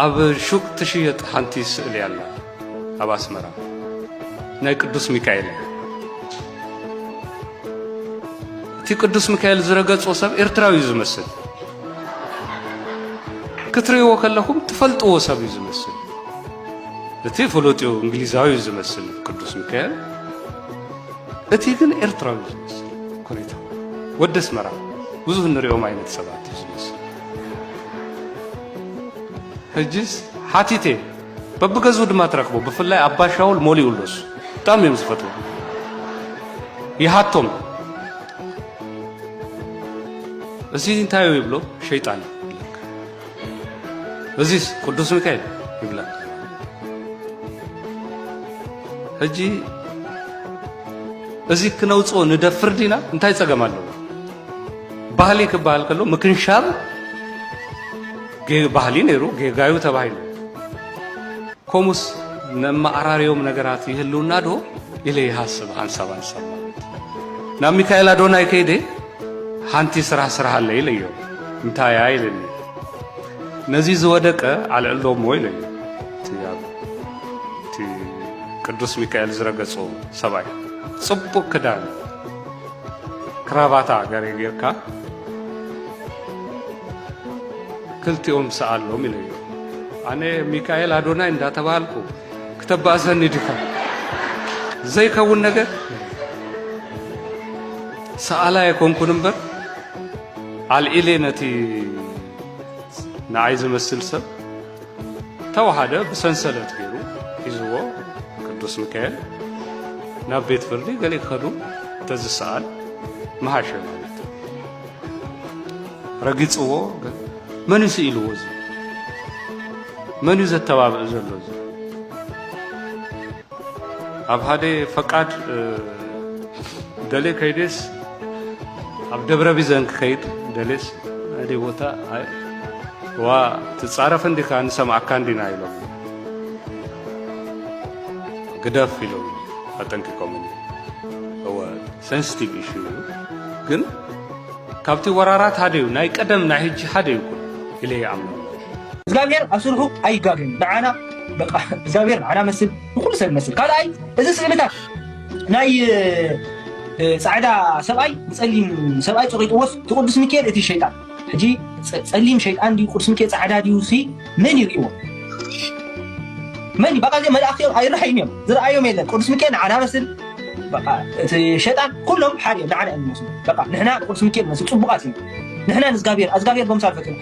ኣብ ሹቅ ትሽየጥ ሓንቲ ስእሊ ኣላ ኣብ ኣስመራ ናይ ቅዱስ ሚካኤል እያ። እቲ ቅዱስ ሚካኤል ዝረገጾ ሰብ ኤርትራዊ እዩ ዝመስል። ክትርእይዎ ከለኹም ትፈልጥዎ ሰብ እዩ ዝመስል። እቲ ፍሉጥ እዩ እንግሊዛዊ እዩ ዝመስል ቅዱስ ሚካኤል፣ እቲ ግን ኤርትራዊ እዩ ዝመስል። ኮሪታ ወደስ መራ ብዙህ ንሪኦም ዓይነት ሰባት እዩ ዝመስል። ሕጅስ ሓቲተ በብገዝኡ ድማ ትረክቦ ብፍላይ ኣባሻውል ሞሊኡ ኣሎ እሱ ብጣዕሚ እዮም ዝፈትዎ ይሃቶም እዚ እንታይ እዩ ይብሎ ሸይጣን እዚስ ቅዱስ ሚካኤል ይብላ ሕጂ እዚ ክነውፅኦ ንደፍር ዲና እንታይ ፀገም ኣለዎ ባህሊ ክበሃል ከሎ ምክንሻብ ባህሊ ነይሩ ጌጋዩ ተባሂሉ ኮሙስ ነመኣራርዮም ነገራት ይህልውና ዶ ኢለ ይሃስብ ሃንሳብ ሃንሳብ ናብ ሚካኤል ኣዶናይ ከይደ ሓንቲ ስራሕ ስራሕ ኣለ ኢለዮ እንታይ እያ ኢለኒ ነዚ ዝወደቀ ኣልዕሎ እሞ ኢለዮ እቲ ቅዱስ ሚካኤል ዝረገጾ ሰብኣይ ጽቡቕ ክዳን ክራቫታ ገሬ ጌርካ ክልቲኦም ሰኣሎም ኢለዮ ኣነ ሚካኤል ኣዶናይ እንዳተባሃልኩ ክተባእሰኒ ዲኻ ዘይከውን ነገር ሰኣላ የኮንኩን እምበር ኣልዒሌ ነቲ ንዓይ ዝመስል ሰብ ተዋሃደ ብሰንሰለት ገይሩ ሒዝዎ ቅዱስ ሚካኤል ናብ ቤት ፍርዲ ገሌ ክኸዱ እንተዝሰኣል መሃሸ ማለት ረጊፅዎ መን እዩ ስኢልዎ እዚ መን እዩ ዘተባብዕ ዘሎ እዚ ኣብ ሃደ ፈቃድ ደሌ ከይዴስ ኣብ ደብረ ቢዘን ክኸይድ ደሌስ ሃደ ቦታ ዋ ትጻረፍ እንዲካ ንሰምዓካ እንዲና ኢሎም ግደፍ ኢሎም ኣጠንቂቆምኒ እወ ሰንስቲቭ ኢሹ እዩ ግን ካብቲ ወራራት ሓደ እዩ ናይ ቀደም ናይ ሕጂ ሓደ ይኩን ኢለ ይኣምን እግዚኣብሔር ኣብ ስርሑ ኣይጋገን ንዓና በቃ እግዚኣብሔር ንዓና መስል ንኩሉ ሰብ መስል ካልኣይ እዚ ስእልታት ናይ ፃዕዳ ሰብኣይ ፀሊም ሰብኣይ ፀቂጥዎስ እቲ ቅዱስ ሚካኤል እቲ ሸይጣን ሕጂ ፀሊም ሸይጣን ድዩ ቅዱስ ሚካኤል ፃዕዳ ድዩ ሲ መን ይርእዎ መን በቃ እዚኦም መላእክቲ እዮም ኣይረሓዩን እዮም ዝረኣዮም የለን ቅዱስ ሚካኤል ንዓና መስል በቃ እቲ ሸይጣን ኩሎም ሓደ እዮም ንዓና እዮም ዝመስሉ በቃ ንሕና ንቅዱስ ሚካኤል መስል ፅቡቃት እዮም ንሕና ንእግዚኣብሔር እግዚኣብሔር በምሳል ፈጢሩ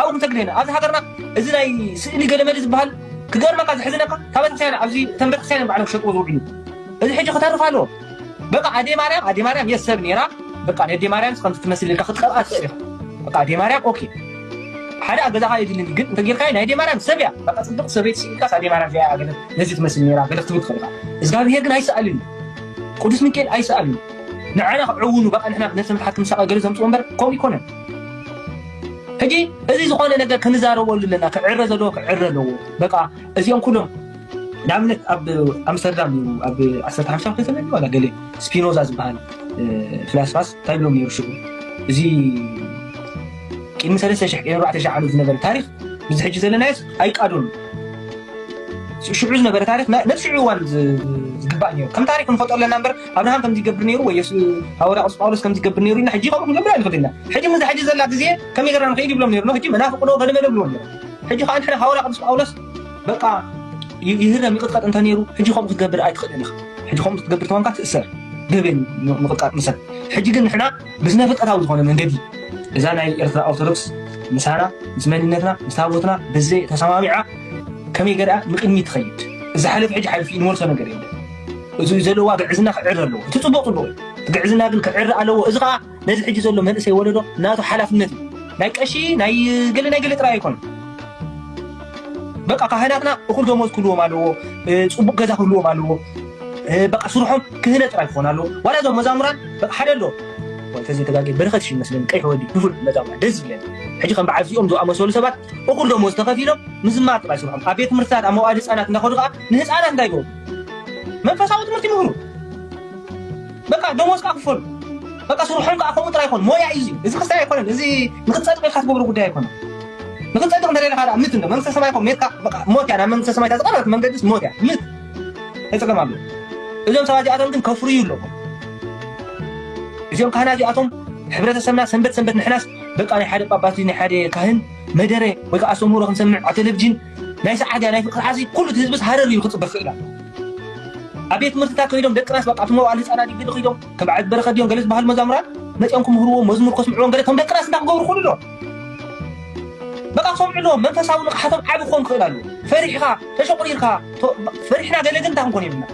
ኣብኡ ክንሰግድ ኢና ኣብዚ ሃገርና እዚ ናይ ስእሊ ገለመለ ዝበሃል ክገርመካ ዘሕዝነካ ካብ ቤተክርስትያን ኣብዚ እተን ቤተክርስትያን እዮም ባዕሎም ክሸጥዎ ዝውዕሉ እዚ ሕጂ ክተርፍ ኣለዎ በቃ ኣዴ ማርያም ኣዴ ማርያም የስ ሰብ ነይራ በቃ ነዴ ማርያም ከምቲ ትመስል ኢልካ ክትቀብኣ ትኽእል ኢኻ በቃ ኣዴ ማርያም ኦኬ ሓደ ኣብ ገዛኻ የድልኒ ግን እንተጌርካዮ ናይ ኣዴ ማርያም ሰብ እያ በቃ ፅብቅ ሰበይቲ ስኢልካስ ኣዴ ማርያም እዚኣ እያ ገለ ነዚ ትመስል ነይራ ገለ ክትብል ትኽእል ኢኻ እግዚኣብሄር ግን ኣይሰኣልን እዩ ቅዱስ ሚካኤል ኣይሰኣልን እዩ ንዓና ክዕውኑ በቃ ንሕና ነብሰ ምትሓት ክንሳቐ ገለ ዘምፅኦ እምበር ከምኡ ኣይኮነን ሕጂ እዚ ዝኾነ ነገር ክንዛረበሉ ኣለና ክዕረ ዘለዎ ክዕረ ኣለዎ በቃ እዚኦም ኩሎም ንኣብነት ኣብ ኣምስተርዳም እዩ ኣብ ዓሰርተ ሓምሳ ክፍለ ዘመን ዋላ ገለ ስፒኖዛ ዝበሃል ፍላስፋስ እንታይ ብሎም ነይሩ ሽዑ እዚ ቅድሚ ሰለስተ ሽሕ ቅድሚ ኣርባዕተ ሽሕ ዓመት ዝነበረ ታሪክ ብዚ ሕጂ ዘለናዮስ ኣይቃዶን ሽዑ ዝነበረ ታሪክ ነብሲ እዋን ዝግባእ ነይሩ ከም ታሪክ ንፈጦ ኣለና እምበር ኣብርሃም ከምዚ ይገብር ነይሩ ወይ ሃዋርያ ቅዱስ ጳውሎስ ከምዚ ይገብር ነይሩ ኢልና ሕጂ ከምኡ ክንገብር ኣይንኽእልን ኢና። ሕጂ ምስዛ ሕጂ ዘላ ግዜ ከመይ ጌርና ንኽይድ ይብሎም ነይሩ። ሕጂ መናፍቕ ዶ ገለ መለ ይብልዎም ነይሩ። ሕጂ ከኣ ንሕና ሃዋርያ ቅዱስ ጳውሎስ በቃ ይህረም ይቕጥቀጥ እንተ ነይሩ ሕጂ ከምኡ ክትገብር ኣይትኽእልን ኢኻ። ሕጂ ከምኡ ክትገብር ተኾንካ ትእሰር ገበን ምቕጥቃጥ ምሰል። ሕጂ ግን ንሕና ብስነ ፍልጠታዊ ዝኾነ መንገዲ እዛ ናይ ኤርትራ ኦርቶዶክስ ምሳና ምስ መንነትና ምስ ታቦትና ብዘይ ተሰማሚዓ ከመይ ገርኣ ንቅድሚት ትኸይድ። እዚ ሓለፊ ሕጂ ሓሊፉ እዩ ንመልሶ ነገር የለን። እዚ ዘለዋ ግዕዝና ክዕረ ኣለዎ እቲ ፅቡቅ ፅቡቅ እቲ ግዕዝና ግን ክዕረ ኣለዎ እዚ ከዓ ነዚ ሕጂ ዘሎ መንእሰይ ወለዶ ናቱ ሓላፍነት እዩ ናይ ቀሺ ናይ ገለ ናይ ገለ ጥራይ ኣይኮነ በቃ ካህናትና እኩል ደሞዝ ክህልዎም ኣለዎ ፅቡቅ ገዛ ክህልዎም ኣለዎ በቃ ስርሖም ክህነ ጥራይ ክኾን ኣለዎ ዋላ እዞም መዛሙራን በቃ ሓደ ኣለዎ ተዚ ተጋጊ በረኸት ሽ መስለኒ ቀይሕ ወዲ ንፉዕ መዛሙራ ደስ ዝብለኒ ሕጂ ከም በዓል እዚኦም ዝኣመሰሉ ሰባት እኩል ደሞዝ ተኸፊሎም ምዝማር ጥራይ ስርሖም ኣብ ቤት ትምህርትታት ኣብ መዋእድ ህፃናት እንዳኸዱ ከዓ ንህፃናት እንታይ ይገብሩ መንፈሳዊ ትምህርቲ ምህሩ በቃ ደሞዝ ከዓ ክፈሉ በቃ ስርሖም ከዓ ከምኡ ጥራይ ይኮኑ ሞያ እዩ እዚ ክስታይ ኣይኮነን እዚ ንክትፀድቅ ኢልካ ትገብሮ ጉዳይ ኣይኮነን ንክትፀድቅ እንተደለካ ደኣ ምት እንዶ መንግስተ ሰማይ ኮ ሜትካ ሞት እያ ናብ መንግስተ ሰማይ ዝቀረበት መንገዲስ ሞት እያ ምት ተፀገም ኣሎ እዞም ሰባት እዚኣቶም ግን ከፍርዩ ኣለኹ እዚኦም ካህና እዚኣቶም ሕብረተሰብና ሰንበት ሰንበት ንሕናስ በቃ ናይ ሓደ ጳጳስ ናይ ሓደ ካህን መደረ ወይ ከዓ ኣስተምህሮ ክንሰምዕ ኣብ ቴሌቭዥን ናይ ሰዓዲያ ናይ ፍቅሪ ዓሲ ኩሉ እቲ ህዝብስ ሃረር ኢሉ ክጽበ ክኽእል ኣለዎ። ኣብ ቤት ትምህርትታት ከይዶም ደቅናስ በቃ እቶም መዋእለ ህጻናት ድዩ ገለ ከይዶም ከም በዓል እቲ በረኸት ድዮም ገለ ዝበሃሉ መዛሙራን መጺኦም ክምህርዎም መዝሙር ከስምዕዎም ገለ እቶም ደቅናስ እንታይ ክገብሩ ይኽእሉ ኣለዎም። በቃ ክሰምዑ ኣለዎም መንፈሳዊ ንቕሓቶም ዓቢ ክኾን ክኽእል ኣለዎ። ፈሪሕኻ ተሸቑሪርካ ቶ ፈሪሕና ገለ ግን እንታይ ክንኮን የብልናን።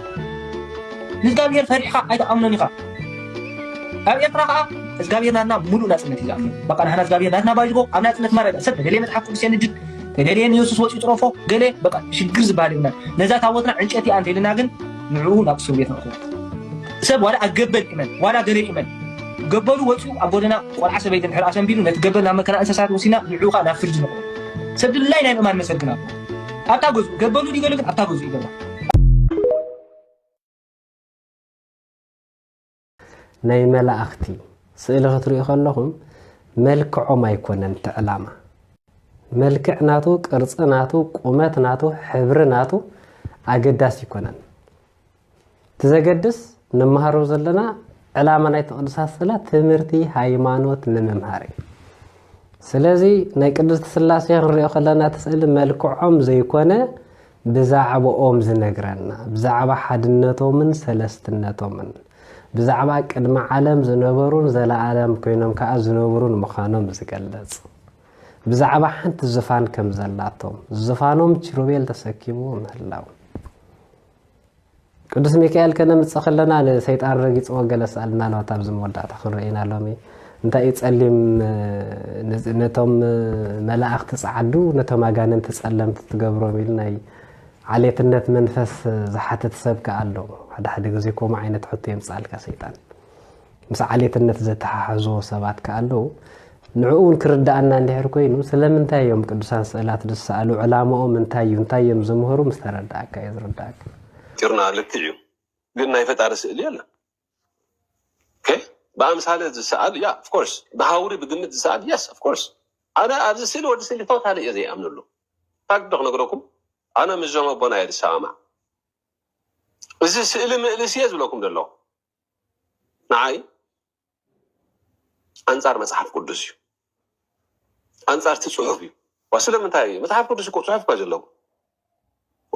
ንእዝጋብሄር ፈሪሕኻ ኣይትኣምኖን ኢኻ። ኣብ ኤርትራ ከኣ እዝጋብሄር ናትና ምሉእ ናጽነት እዩ ዝኣምን በቃ ንሕና እዝጋብሄር ናትና ባይዝጎ ኣብ ናጽነት ማረገ ሰብ ደለየ መጽሓፍ ቅዱስ የንድድ ተደልየ ንየሱስ ወጽዩ ጥረፎ ገለ በቃ ሽግር ዝበሃል የብልናን ነዛ ታቦትና ዕንጨቲ እያ እንተኢልና ግን ንዕኡ ናብ እስር ቤት ነእትዎ ሰብ ዋላ ኣብ ገበል ይመን ዋላ ገለ ይመን ገበሉ ወጽኡ ኣብ ጎደና ቆልዓ ሰበይቲ እንድሕር ኣሰንቢዱ ነቲ ገበል ናብ መከና እንስሳት ወሲና ንዕኡ ከዓ ናብ ፍርዲ ነእትዎ ሰብ ድላይ ናይ ምእማን መሰል ግን ኣሎ ኣብታ ገዝኡ ገበሉ ድዩ ገለ ግን ኣብታ ገዝኡ ይገባ ናይ መላእኽቲ ስእሊ ክትሪኡ ከለኹም መልክዖም ኣይኮነን እቲ ዕላማ መልክዕ ናቱ ቅርፂ ናቱ ቁመት ናቱ ሕብሪ ናቱ ኣገዳሲ ይኮነን እቲ ዘገድስ ንመሃሮ ዘለና ዕላማ ናይ ቅዱሳት ስእላ ትምህርቲ ሃይማኖት ንምምሃር እዩ ስለዚ ናይ ቅድስቲ ስላሴ ክንሪኦ ከለና እቲ ስእሊ መልክዖም ዘይኮነ ብዛዕብኦም ዝነግረና፣ ብዛዕባ ሓድነቶምን ሰለስትነቶምን፣ ብዛዕባ ቅድሚ ዓለም ዝነበሩን ዘለኣለም ኮይኖም ከኣ ዝነብሩን ምዃኖም ዝገልጽ፣ ብዛዕባ ሓንቲ ዝፋን ከም ዘላቶም፣ ዝፋኖም ኪሩቤል ተሰኪምዎ ምህላው፣ ቅዱስ ሚካኤል ከነምጽእ ከለና ንሰይጣን ረጊጽዎ ገለ ስኣልና ኣለዋት ኣብዚ መወዳእታ ክንረኤና ሎሚ እንታይ እዩ ጸሊም ነቶም መላእኽቲ ጸዓዱ ነቶም ኣጋንንቲ ጸለምቲ ትገብሮም ኢሉ ናይ ዓሌትነት መንፈስ ዝሓትት ሰብ ከኣ ኣሎ ሓደ ሓደ ግዜ ከምኡ ዓይነት ሕቶ የምጽኣልካ ሰይጣን ምስ ዓሌትነት ዘተሓሕዝዎ ሰባት ከኣ ኣለዉ። ንዕኡ እውን ክርድኣና እንድሕር ኮይኑ ስለምንታይ እዮም ቅዱሳን ስእላት ዝሰኣሉ፣ ዕላማኦም እንታይ እዩ፣ እንታይ እዮም ዝምህሩ ምስ ተረድኣካ እዩ ዝርድኣካ። ጭርና ልክዕ እዩ ግን ናይ ፈጣሪ ስእሊ የለን ኦኬ ብኣምሳለ ዝሰኣል ያ ኦፍ ኮርስ ብሃውሪ ብግምት ዝሰኣል የስ ኦፍ ኮርስ ኣነ ኣብዚ ስእሊ ወዲ ስእሊ ቶታሊ እየ ዘይኣምነሉ ፋክት ዶ ክነግረኩም ኣነ ምስዞም ኣቦና እየ ዝሰማማዕ እዚ ስእሊ ምእልስ እየ ዝብለኩም ዘለኹ ንዓይ ኣንጻር መጽሓፍ ቅዱስ እዩ ኣንጻር እቲ ጽሑፍ እዩ ዋ ስለምንታይ እዩ መጽሓፍ ቅዱስ እኮ ጽሑፍ እኳ ዘለዎ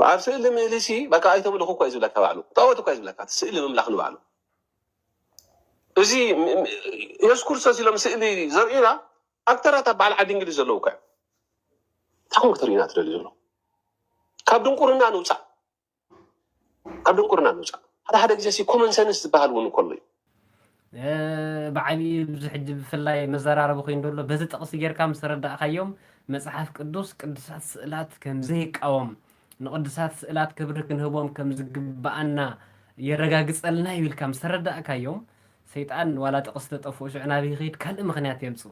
ኣብ ስእሊ ምእሊ ሲ በቃ ኣይተምልኹ እኳ እዩ ዝብለካ ባዕሉ ጣዖት እኳ እዩ ዝብለካ እቲ ስእሊ ምምላኽ ንባዕሉ እዚ የሱስ ክርስቶስ ኢሎም ስእሊ ዘርእዩና ኣክተራት ኣብ በዓል ዓዲ እንግሊዝ ዘለዉ እኳ እዮም እንታይ ኮን ክትርእዩና ትደልዩ ዘሎ ካብ ድንቁርና ንውፃእ ካብ ድንቁርና ንውፃእ ሓደ ሓደ ግዜ ሲ ኮመን ሰንስ ዝበሃል እውን ከሎ እዩ ብዓብዪ ብዙ ሕጂ ብፍላይ መዘራረቢ ኮይኑ ዘሎ በዚ ጥቕሲ ጌርካ ምስ ረዳእካዮም መጽሓፍ ቅዱስ ቅዱሳት ስእላት ከም ዘይቃወም ንቅዱሳት ስእላት ክብሪ ክንህቦም ከም ዝግብኣና የረጋግጸልና እዩ ኢልካ ምስ ረዳእካዮም ሰይጣን ዋላ ጥቕሲ ተጠፍኡ ሽዑ ናበይ ይኸይድ ካልእ ምክንያት የምጽኡ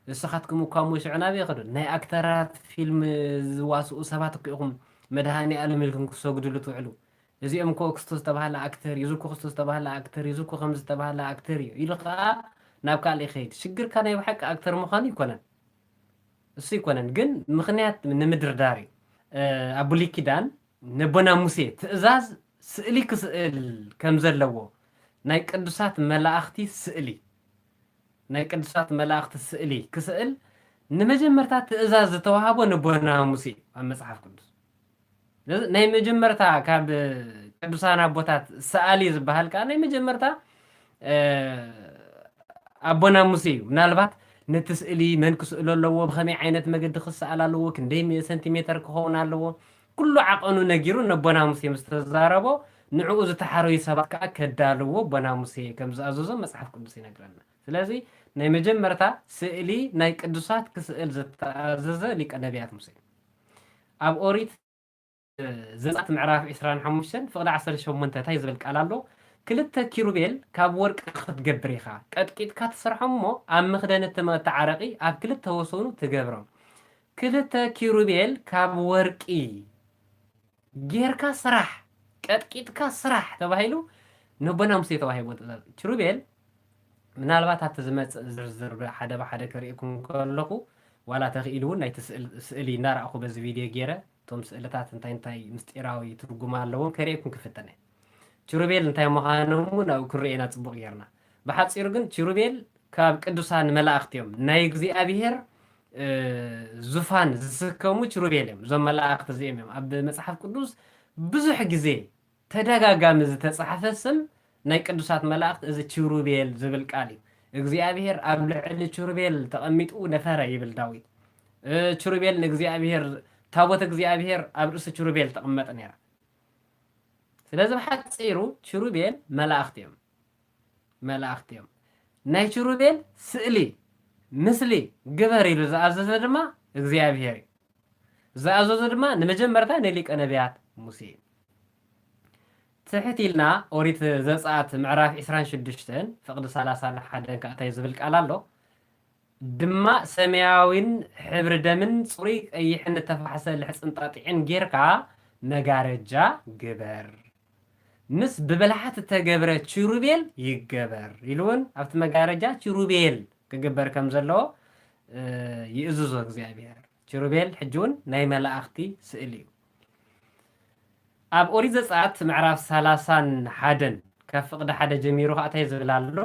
ንስኻትኩም እኳ እሞ ሽዑ ናበይ ይኸዱ ናይ ኣክተራት ፊልም ዝዋስኡ ሰባት እኮ ኢኹም መድሃኒኣለም ኢልኩም ክትሰግድሉ ትውዕሉ እዚኦም እኮ ክስቶ ዝተባህለ ኣክተር እዩ እዚ እኮ ክስቶ ዝተባህለ ኣክተር እዩ እዚ እኮ ከምዚ ዝተባህለ ኣክተር እዩ ኢሉ ከኣ ናብ ካልእ ይከይድ ሽግርካ ናይ ብሓቂ ኣክተር ምኳኑ ኣይኮነን እሱ ኣይኮነን ግን ምክንያት ንምድርዳር እዩ ኣብ ብሉይ ኪዳን ነቦና ሙሴ ትእዛዝ ስእሊ ክስእል ከምዘለዎ ናይ ቅዱሳት መላእክቲ ስእሊ ናይ ቅዱሳት መላእኽቲ ስእሊ ክስእል ንመጀመርታ ትእዛዝ ዝተዋህቦ ንቦና ሙሴ እዩ ኣብ መጽሓፍ ቅዱስ። ስለዚ ናይ መጀመርታ ካብ ቅዱሳን ኣቦታት ሰኣሊ ዝበሃል ከኣ ናይ መጀመርታ ኣቦና ሙሴ እዩ። ምናልባት ነቲ ስእሊ መን ክስእሎ ኣለዎ፣ ብኸመይ ዓይነት መገዲ ክሰኣል ኣለዎ፣ ክንደይ ሜ- ሰንቲሜተር ክኸውን ኣለዎ፣ ኩሉ ዓቐኑ ነጊሩ ነቦና ሙሴ ምስ ተዛረቦ፣ ንዕኡ ዝተሓረዩ ሰባት ከኣ ከዳልውዎ ኣቦና ሙሴ ከም ዝኣዘዞም መጽሓፍ ቅዱስ ይነግረና። ስለዚ ናይ መጀመርታ ስእሊ ናይ ቅዱሳት ክስእል ዝተኣዘዘ ሊቀ ነብያት ሙሴ እዩ። ኣብ ኦሪት ዘጸኣት ምዕራፍ ዕስራን ሓሙሽተን ፍቕዲ ዓሰርተ ሸሞንተ እንታይ ዝብል ቃል ኣሎ? ክልተ ኪሩቤል ካብ ወርቂ ክትገብር ኢኻ፣ ቀጥቂጥካ ትሰርሖም እሞ ኣብ መኽደኒ እቲ መቕድቲ ዓረቒ ኣብ ክልተ ወሰኑ ትገብሮም። ክልተ ኪሩቤል ካብ ወርቂ ጌርካ ስራሕ፣ ቀጥቂጥካ ስራሕ ተባሂሉ ንኣቦና ሙሴ ተዋሂብዎ ትእዛዝ። ኪሩቤል ምናልባት ኣብቲ ዝመጽእ ዝርዝር ብሓደ ብሓደ ክርእየኩም ከለኹ ዋላ ተኽኢሉ እውን ናይቲ ስእሊ እናረኣኹ በዚ ቪድዮ ጌረ እቶም ስእልታት እንታይ እንታይ ምስጢራዊ ትርጉም ኣለዎም ከርእየኩም ክፍትን እየ። ኪሩቤል እንታይ ምዃኖም እውን ኣብኡ ክንርእዮ ኢና ጽቡቕ ጌርና። ብሓጺሩ ግን ኪሩቤል ካብ ቅዱሳን መላእኽቲ እዮም። ናይ እግዚኣብሄር ዙፋን ዝስከሙ ኪሩቤል እዮም። እዞም መላእኽቲ እዚኦም እዮም ኣብ መጽሓፍ ቅዱስ ብዙሕ ግዜ ተደጋጋሚ ዝተጻሕፈ ስም ናይ ቅዱሳት መላእኽት እዚ ቺሩቤል ዝብል ቃል እዩ። እግዚኣብሄር ኣብ ልዕሊ ቺሩቤል ተቐሚጡ ነበረ ይብል ዳዊት። ቺሩቤል ንእግዚኣብሄር ታቦት እግዚኣብሄር ኣብ ርእሲ ቺሩቤል ትቕመጥ ነይራ። ስለዚ ብሓጺሩ ቺሩቤል መላእኽት እዮም። መላእኽት እዮም። ናይ ቺሩቤል ስእሊ፣ ምስሊ፣ ግበር ኢሉ ዝኣዘዘ ድማ እግዚኣብሄር እዩ። ዝኣዘዞ ድማ ንመጀመርታ ንሊቀ ነብያት ሙሴ እዩ። ትሕት ኢልና ኦሪት ዘጽኣት ምዕራፍ ዕስራን ሽዱሽተን ፍቕዲ ሰላሳን ሓደን ከኣ እንታይ ዝብል ቃል ኣሎ ድማ ሰማያዊን ሕብሪ ደምን ጽሩይ ቀይሕን እተፋሕሰ ልሕጽን ጣጢዕን ጌርካ መጋረጃ ግበር። ምስ ብብልሓት እተገብረ ቺሩቤል ይገበር ኢሉ እውን ኣብቲ መጋረጃ ቺሩቤል ክግበር ከም ዘለዎ ይእዝዞ እግዚኣብሄር። ቺሩቤል ሕጂ እውን ናይ መላእኽቲ ስእሊ እዩ። ኣብ ኦሪት ዘጸኣት ምዕራፍ ሰላሳን ሓደን ካብ ፍቕዲ ሓደ ጀሚሩ ኸኣ እንታይ ዝብል ኣሎ?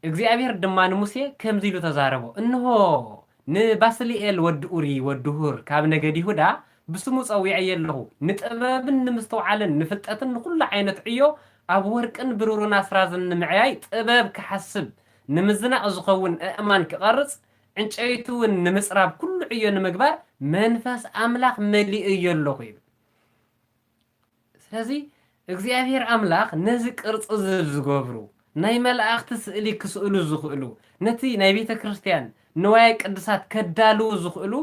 እግዚኣብሄር ድማ ንሙሴ ከምዚ ኢሉ ተዛረቦ፣ እንሆ፣ ንባስልኤል ወዲ ኡሪ ወዲ ሁር ካብ ነገድ ይሁዳ ብስሙ ጸዊዐዮ ኣሎኹ፣ ንጥበብን ንምስትውዓልን ንፍልጠትን ንዅሉ ዓይነት ዕዮ ኣብ ወርቅን ብሩርን ኣስራዝን ንምዕያይ ጥበብ ኪሓስብ፣ ንምዝናቕ ዚኸውን ኣእማን ኪቐርጽ፣ ዕንጨይቲውን ንምጽራብ ኵሉ ዕዮ ንምግባር መንፈስ ኣምላኽ መሊኤዮ ኣሎኹ ይብል። ስለዚ እግዚኣብሄር ኣምላኽ ነዚ ቅርጺ እዚ ዝገብሩ፣ ናይ መላእኽቲ ስእሊ ክስእሉ ዝኽእሉ፣ ነቲ ናይ ቤተ ክርስቲያን ንዋየ ቅድሳት ከዳልዉ ዝኽእሉ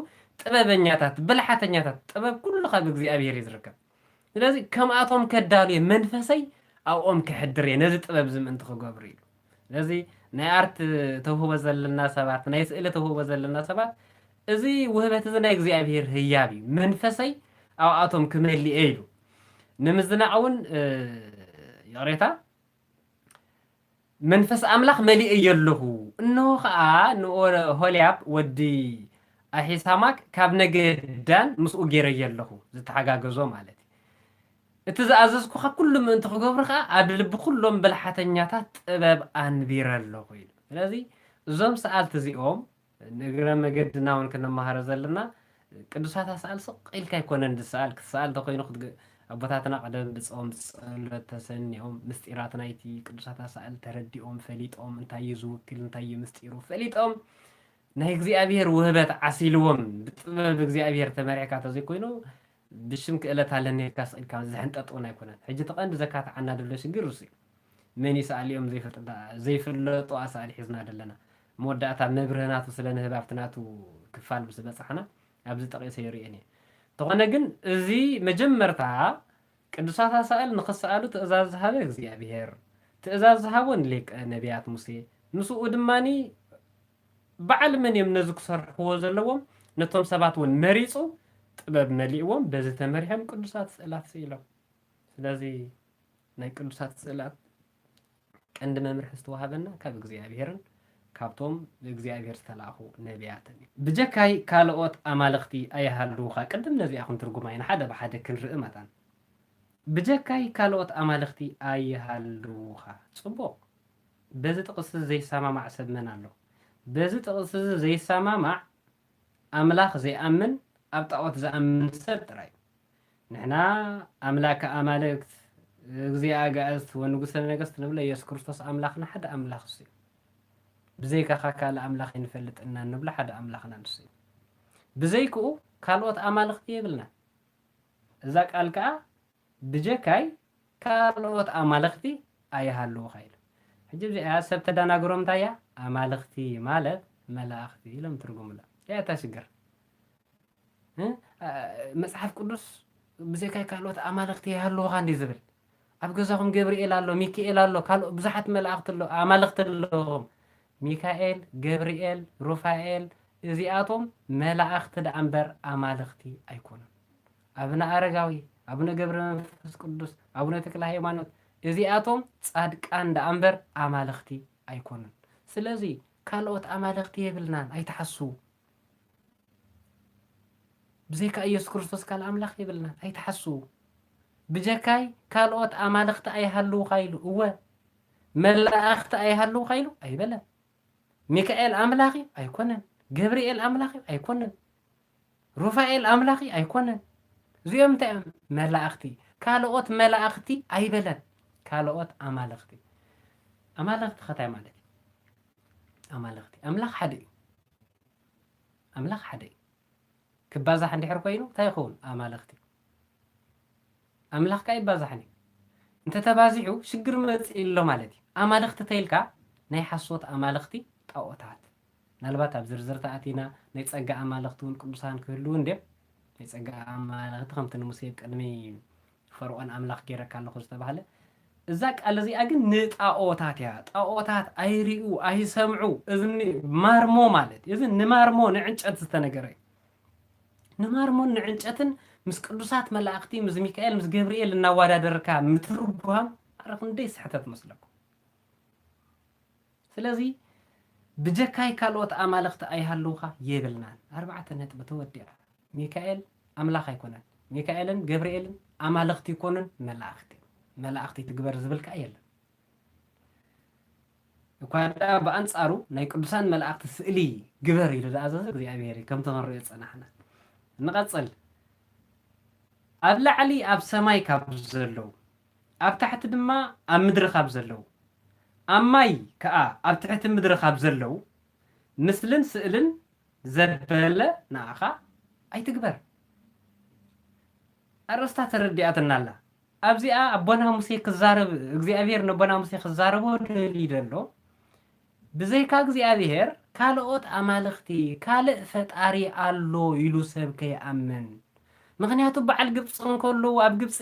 ጥበበኛታት፣ ብልሓተኛታት፣ ጥበብ ኩሉ ካብ እግዚኣብሄር እዩ ዝርከብ። ስለዚ ከምኣቶም ከዳሉ እየ፣ መንፈሰይ ኣብኦም ከሕድር እየ፣ ነዚ ጥበብ እዚ ምእንቲ ክገብሩ ኢሉ። ስለዚ ናይ ኣርት ተውህቦ ዘለና ሰባት ናይ ስእሊ ተውህቦ ዘለና ሰባት እዚ ውህበት እዚ ናይ እግዚኣብሄር ህያብ እዩ መንፈሰይ ኣብኣቶም ክመልእ እየ ኢሉ ንምዝናዕ እውን ይቕሬታ መንፈስ ኣምላኽ መሊእ እየ ኣለኹ እንሆ ከዓ ንኦሆልያብ ወዲ ኣሒሳማክ ካብ ነገድ ዳን ምስኡ ገይረየ ኣለኹ ዝተሓጋገዞ ማለት እዩ እቲ ዝኣዘዝኩኻ ኵሉ ምእንቲ ኺገብሩ ኸኣ፣ ኣብ ልቢ ዅሎም ብልሓተኛታት ጥበብ ኣንቢረ ኣሎኹ ኢሉ። ስለዚ፣ እዞም ሰኣልቲ እዚኦም፣ ንእግረ መገድና እውን ክንመሃሮ ዘለና፣ ቅዱሳት ኣሳእል ስቕ ኢልካ ኣይኰነን ዚሰኣል። ክትሰኣል እንተ ዀይኑ፣ ኣቦታትና ቐደም ብጾም ብጸሎት ተሰኒዮም፣ ምስጢራት ናይቲ ቅዱሳት ኣሳእል ተረዲኦም፣ ፈሊጦም፣ እንታይ እዩ ዚውክል፣ እንታይ እዩ ምስጢሩ ፈሊጦም፣ ናይ እግዚኣብሄር ውህበት ዓሲልዎም፣ ብጥበብ እግዚኣብሄር ተመሪሕካ እንተ ዘይኰይኑ፣ ብሽም ክእለት ኣለኒ ኢልካስ ኢልካ ዝሕንጠጥ ውን ኣይኮነን ሕጂ እቲ ቀንዲ ዘካትዓና ደሎ ሽግር እሱ እዩ መን እዩ ሰኣሊ ኦም ዘይፈልጥ ደኣ ዘይፈለጡ ኣሳእሊ ሒዝና ደለና መወዳእታ መብርሂ ናቱ ስለ ንህብ ኣብቲ ናቱ ክፋል ምስ በጻሕና ኣብዚ ጠቂሰ ይርእየን እየ እንተኾነ ግን እዚ መጀመርታ ቅዱሳት ኣሳእል ንኽሰኣሉ ትእዛዝ ዝሃበ እግዚኣብሄር ትእዛዝ ዝሃቦ ንሊቀ ነብያት ሙሴ ምስኡ ድማ በዓል መን እዮም ነዚ ክሰርሕዎ ዘለዎም ነቶም ሰባት ውን መሪጹ ጥበብ መሊእዎም በዚ ተመሪሖም ቅዱሳት ስእላት ስኢሎም ስለዚ ናይ ቅዱሳት ስእላት ቀንዲ መምርሒ ዝተዋህበና ካብ እግዚኣብሔርን ካብቶም ብእግዚኣብሔር ዝተላእኹ ነቢያትን እዩ። ብጀካይ ካልኦት ኣማልኽቲ ኣይሃልዉኻ ቅድም ነዚኣ ክንትርጉማ ኢና ሓደ ብሓደ ክንርኢ መታን ብጀካይ ካልኦት ኣማልኽቲ ኣይሃልዉኻ ጽቡቕ። በዚ ጥቕስዚ ዘይሰማማዕ ሰብ መን ኣሎ? በዚ ጥቕስዚ ዘይሰማማዕ ኣምላኽ ዘይኣምን ኣብ ጣኦት ዝኣምን ሰብ ጥራይ እዩ። ንሕና ኣምላከ ኣማልክት፣ እግዚእ ኣጋእዝት ወንጉሠ ነገሥት ንብሎ ኢየሱስ ክርስቶስ ኣምላኽና ሓደ ኣምላኽ እሱ እዩ። ብዘይካኻ ካልእ ኣምላኽ ኣይንፈልጥን እና እንብሎ ሓደ ኣምላኽና ንሱ እዩ። ብዘይክኡ ካልኦት ኣማልኽቲ የብልናን። እዛ ቃል ከኣ ብጀካይ ካልኦት ኣማልኽቲ ኣይሃልዉኻ ኢሉ። ሕጂ ብዚኣያ ሰብ ተዳናግሮም እንታይ እያ ኣማልኽቲ ማለት መላእኽቲ ኢሎም ትርጉሙላ። እያ እታ ሽግር። መጽሓፍ ቅዱስ ብዘካይ ካልኦት ኣማልኽቲ ኣይሃልዉኻ እንዲ ዝብል። ኣብ ገዛኹም ገብርኤል ኣሎ፣ ሚካኤል ኣሎ፣ ካልኦ ብዙሓት መላእኽቲ ኣሎ፣ ኣማልኽቲ ኣለዎም። ሚካኤል፣ ገብርኤል፣ ሩፋኤል እዚኣቶም መላእኽቲ ደኣ እምበር ኣማልኽቲ ኣይኮኑን። ኣብነ ኣረጋዊ፣ ኣቡነ ገብረመንፈስ ቅዱስ፣ ኣቡነ ተክለሃይማኖት እዚኣቶም ጻድቃን ደኣ እምበር ኣማልኽቲ ኣይኮኑን። ስለዚ ካልኦት ኣማልኽቲ የብልናን ኣይትሓስዉ። ብዘይካ ኢየሱስ ክርስቶስ ካልእ ኣምላኽ የብልናን ኣይትሓስዉ። ብጀካይ ካልኦት ኣማልኽቲ ኣይሃልዉኻ ኢሉ እወ መላእኽቲ ኣይሃልዉኻ ኢሉ ኣይበለን። ሚካኤል ኣምላኽ እዩ ኣይኮነን። ገብርኤል ኣምላኽ እዩ ኣይኮነን። ሩፋኤል ኣምላኪ ኣይኮነን እዚኦም እንታይ እዮም መላእክቲ ካልኦት መላእክቲ ኣይበለን ካልኦት ኣማልክቲ ኣማልክቲ ከታይ ማለት እዩ ኣማልክቲ ኣምላኽ ሓደ እዩ ኣምላኽ ሓደ እዩ ክባዛሕ እንድሕር ኮይኑ እንታይ ይኸውን ኣማልክቲ ኣምላኽ ከኣ ኣይባዛሕን እዩ እንተ ተባዚሑ ሽግር መጺኡ ኣሎ ማለት እዩ ኣማልኽቲ ተይልካ ናይ ሓሶት ኣማልኽቲ ጣኦታት ናልባት ኣብ ዝርዝር ተኣቲና ናይ ጸጋ ኣማልኽቲ ውን ቅዱሳን ክህልዉ እንድዮም ናይ ጸጋ ኣማልኽቲ ከምቲ ንሙሴ ኣብ ቅድሚ ፈርኦን ኣምላኽ ጌረካ ኣለኹ ዝተባህለ እዛ ቃል እዚኣ ግን ንጣኦታት እያ ጣኦታት ኣይሪኡ ኣይሰምዑ እዚ ማርሞ ማለት እዚ ንማርሞ ንዕንጨት ዝተነገረ እዩ ንማርሞን ንዕንጨትን ምስ ቅዱሳት መላእኽቲ ምስ ሚካኤል ምስ ገብርኤል እናዋዳደርካ ምትርጓም ኣረ ክንደይ ስሕተት መስለኩም ስለዚ ብጀካይ ካልኦት ኣማልኽቲ ኣይሃልውኻ የብልናን ኣርባዕተ ነጥቢ ተወዲኣ ሚካኤል ኣምላኽ ኣይኮነን ሚካኤልን ገብርኤልን ኣማልኽቲ ይኮኑን መላእኽቲ መላእኽቲ ትግበር ዝብል ከዓ የለን እኳ ደኣ ብኣንጻሩ ናይ ቅዱሳን መላእኽቲ ስእሊ ግበር ኢሉ ዝኣዘዘ እግዚኣብሔር እዩ ከምቲ ክንርእዮ ዝጸናሕና። ንቐጽል ኣብ ላዕሊ ኣብ ሰማይ ካብ ዘለዉ ኣብ ታሕቲ ድማ ኣብ ምድሪ ካብ ዘለዉ ኣብ ማይ ከኣ ኣብ ትሕቲ ምድሪ ካብ ዘለዉ ምስልን ስእልን ዘበለ ንኣኻ ኣይትግበር። ኣርእስታ ተረዲኣትና ኣላ። ኣብዚኣ ኣቦና ሙሴ ክዛረብ እግዚኣብሄር ነቦና ሙሴ ክዛረቦ ደልዩ ዘሎ ብዘይካ እግዚኣብሄር ካልኦት ኣማልኽቲ ካልእ ፈጣሪ ኣሎ ኢሉ ሰብ ከይኣምን ምኽንያቱ በዓል ግብጺ እንከለዉ ኣብ ግብጺ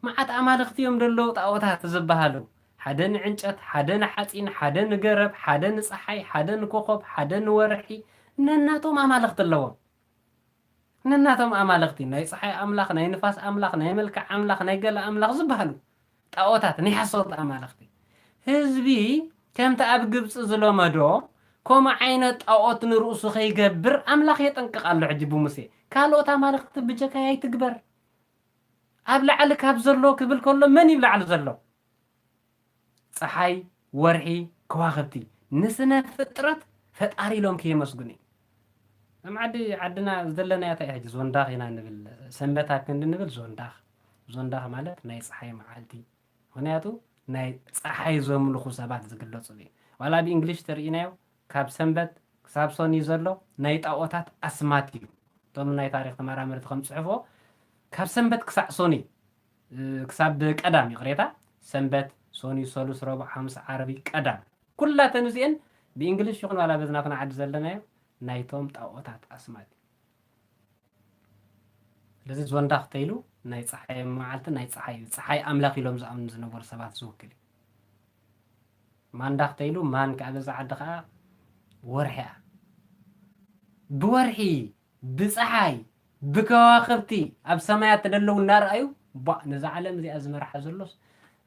መዓት ኣማልኽቲ እዮም ደለዉ ጣኦታት ዝበሃሉ ሓደ ንዕንጨት ሓደ ንሓጺን ሓደ ንገረብ ሓደ ንጸሓይ ሓደ ንኮኾብ ሓደ ንወርሒ ነናቶም ኣማልኽቲ ኣለዎም ነናቶም ኣማልኽቲ፣ ናይ ጸሓይ ኣምላኽ፣ ናይ ንፋስ ኣምላኽ፣ ናይ መልክዕ ኣምላኽ፣ ናይ ገለ ኣምላኽ ዝበሃሉ ጣኦታት፣ ናይ ሓሰውቲ ኣማልኽቲ። ህዝቢ ከምቲ ኣብ ግብጺ ዝለመዶ ከምኡ ዓይነት ጣኦት ንርእሱ ከይገብር ኣምላኽ የጠንቅቕ ኣሎ ሕጂ ብሙሴ። ካልኦት ኣማልኽቲ ብጀካይ ኣይትግበር። ኣብ ላዕሊ ካብ ዘሎ ክብል ከሎ መን እዩ ብ ላዕሊ ዘሎ? ጸሓይ፣ ወርሒ፣ ከዋኽብቲ ንስነ ፍጥረት ፈጣሪ ኢሎም ከየመስግኑ እዩ። እዞም ዓዲ ዓድና ዘለናያ ታይ እያ ሕጂ ዞንዳኽ ኢና ንብል ሰንበታ ክንዲ ንብል ዞንዳኽ ዞንዳኽ ማለት ናይ ጸሓይ መዓልቲ ምክንያቱ ናይ ጸሓይ ዘምልኹ ሰባት ዝግለጽሉ እዩ ዋላ ብ እንግሊሽ ተርኢናዮ ካብ ሰንበት ክሳብ ሰኑይ ዘሎ ናይ ጣኦታት ኣስማት እዩ እቶም ናይ ታሪኽ ተመራመርቲ ከም ጽሑፎ ካብ ሰንበት ክሳዕ ሰኑይ ክሳብ ቀዳም ይቕሬታ ሰንበት ሶኑይ ሰሉስ ረቡዕ ሓሙስ ዓርቢ ቀዳም ኩላተን እዚኤን ብእንግሊሽ ይኹን ዋላ በዚ ናትና ዓዲ ዘለናዮ ናይቶም ጣኦታት ኣስማት እዩ ስለዚ ዞንዳኽ ተይሉ ናይ ፀሓይ መዓልቲ ናይ ፀሓይ ፀሓይ ኣምላኽ ኢሎም ዝኣምኑ ዝነበሩ ሰባት ዝውክል እዩ ማንዳኽ ተይሉ ማን ከዓ በዛ ዓዲ ከዓ ወርሒ እያ ብወርሒ ብጸሓይ ብከዋኽብቲ ኣብ ሰማያት ተደለው እናረኣዩ ቧእ ነዛ ዓለም እዚኣ ዝመርሓ ዘሎስ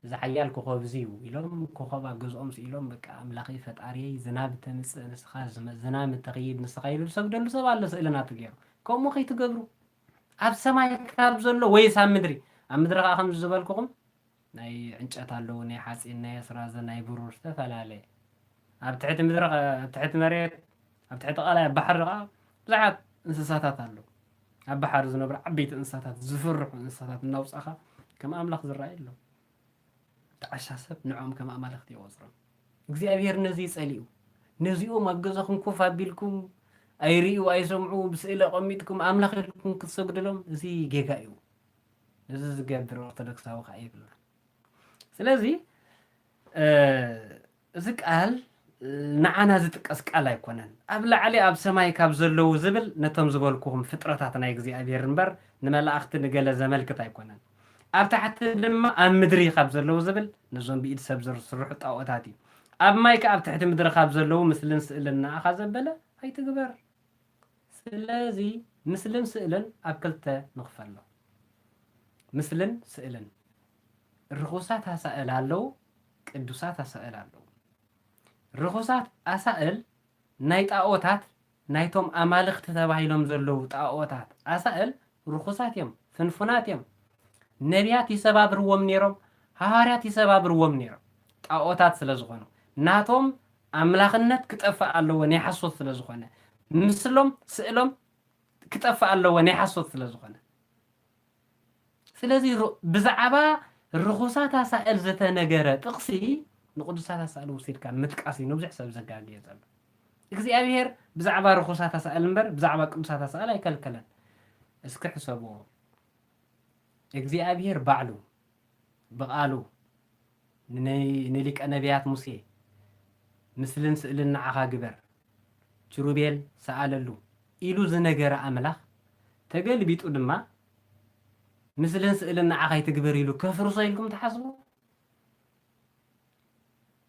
እዚ ሓያል ኮኾብዚ እዩ ኢሎም ኮኾብ ኣብ ገዝኦም ስኢሎም በቃ ኣምላኸይ ፈጣሪየይ ዝናብ ተምጽእ ንስኻ ዝናም እተኽይድ ንስኻ ኢሉ ዝሰግደሉ ሰብ ኣሎ ስእሊ ናቱ ገይሩ ከምኡ ከይትገብሩ ኣብ ሰማይ ካብ ዘሎ ወይስ ኣብ ምድሪ ኣብ ምድሪ ከዓ ከምዚ ዝበልኩኹም ናይ ዕንጨት ኣለዉ ናይ ሓጺን ናይ ኣስራዚ ናይ ብሩር ዝተፈላለየ ኣብ ትሕቲ ምድሪ ኣብ ትሕቲ መሬት ኣብ ትሕቲ ቃላይ ኣብ ባሕሪ ኸኣ ብዙሓት እንስሳታት ኣለዉ ኣብ ባሕሪ ዝነብሩ ዓበይቲ እንስሳታት ዝፍርሑ እንስሳታት እናውጻኻ ከም ኣምላኽ ዝረኣዩ ኣለዉ እቲ ዓሻ ሰብ ንዕኦም ከም ኣማልኽቲ ይቖጽሮም እግዚኣብሄር ነዚ ይጸልኡ ነዚኦም ኣብ ገዛኹም ኮፍ ኣቢልኩም ኣይርእዩ ኣይሰምዑ ብስእሊ ኣቐሚጥኩም ኣምላኽ ኢልኩም ክትሰግድሎም እዚ ጌጋ እዩ እዚ ዝገብር ኦርቶዶክሳዊ ከኣ የብሉን ስለዚ እዚ ቃል ንዓና ዝጥቀስ ቃል ኣይኮነን ኣብ ላዕሊ ኣብ ሰማይ ካብ ዘለዉ ዝብል ነቶም ዝበልኩኹም ፍጥረታት ናይ እግዚኣብሔር እምበር ንመላእኽቲ ንገለ ዘመልክት ኣይኮነን ኣብ ታሕቲ ድማ ኣብ ምድሪ ካብ ዘለዉ ዝብል ነዞም ብኢድ ሰብ ዝስርሑ ጣኦታት እዩ ኣብ ማይ ከ ኣብ ትሕቲ ምድሪ ካብ ዘለዉ ምስልን ስእልን ንኣኻ ዘበለ ኣይትግበር ስለዚ ምስልን ስእልን ኣብ ክልተ ንኽፈሎ። ምስልን ስእልን፣ ርኹሳት ኣሳእል ኣለዉ፣ ቅዱሳት ኣሳእል ኣለዉ። ርኹሳት ኣሳእል ናይ ጣኦታት ናይቶም ኣማልኽቲ ተባሂሎም ዘለዉ ጣኦታት ኣሳእል ርኹሳት እዮም፣ ፍንፉናት እዮም። ነቢያት ይሰባብርዎም ነይሮም፣ ሃዋርያት ይሰባብርዎም ነይሮም፣ ጣኦታት ስለ ዝኾኑ ናቶም ኣምላኽነት ክጠፍእ ኣለዎ ናይ ሓሶት ስለ ዝኾነ ምስሎም ስእሎም ክጠፍእ ኣለዎ ናይ ሓሶት ስለ ዝኾነ ስለዚ ብዛዕባ ርኹሳት ኣሳእል ዝተነገረ ጥቕሲ ንቅዱሳት ኣሳእል ወሲድካ ምጥቃስ እዩ ንብዙሕ ሰብ ዘጋግየ ዘሎ እግዚኣብሄር ብዛዕባ ርኹሳት ኣሳእል እምበር ብዛዕባ ቅዱሳት ኣሳእል ኣይከልከለን እስኪ ሕሰብዎ እግዚኣብሄር ባዕሉ ብቓሉ፣ ንሊቀ ነብያት ሙሴ፣ ምስልን ስእልን ንዓኻ ግበር፣ ኪሩቤል ስኣለሉ ኢሉ ዝነገረ ኣምላኽ፣ ተገልቢጡ ድማ ምስልን ስእልን ንዓኻ ኣይትግበር ኢሉ ከፍርሶ ኢልኩም ትሓስቡ?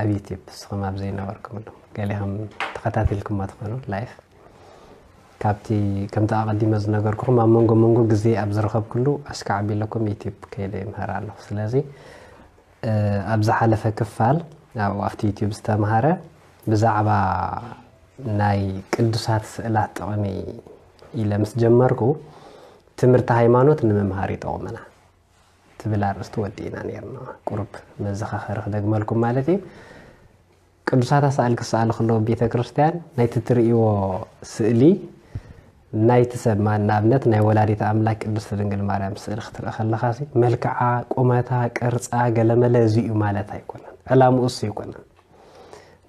ኣብ ዩቲብ ንስኹም ኣብ ዘይነበርኩምሉ ገሊኹም ተኸታቲልኩሞ ትኾኑ ላይፍ ካብቲ ከምቲ ኣቐዲመ ዝነገርኩኹም ኣብ መንጎ መንጎ ግዜ ኣብ ዝረኸብኩሉ ኣስካ ዓቢለኩም ዩቲብ ከይደ ይምህር ኣለኹ ስለዚ ኣብ ዝሓለፈ ክፋል ኣብኡ ኣብቲ ዩቲብ ዝተምሃረ ብዛዕባ ናይ ቅዱሳት ስእላት ጥቕሚ ኢለ ምስ ጀመርኩ ትምህርቲ ሃይማኖት ንምምሃር ይጠቕመና ትብል ኣርእስቲ ወዲእና ኔርና። ቁሩብ መዘኻኸሪ ክደግመልኩም ማለት ኢዩ። ቅዱሳት ኣሳእል ክሰኣሉ ከለዉ ኣብ ቤተ ክርስትያን ናይቲ ትርእይዎ ስእሊ ናይቲ ሰብ ንኣብነት ናይ ወላዲት ኣምላክ ቅድስቲ ድንግል ማርያም ስእሊ ክትርኢ ከለኻ መልክዓ፣ ቁመታ፣ ቅርጻ ገለመለ እዚ እዩ ማለት ኣይኮነን። ዕላምኡ እሱ ኣይኮነን።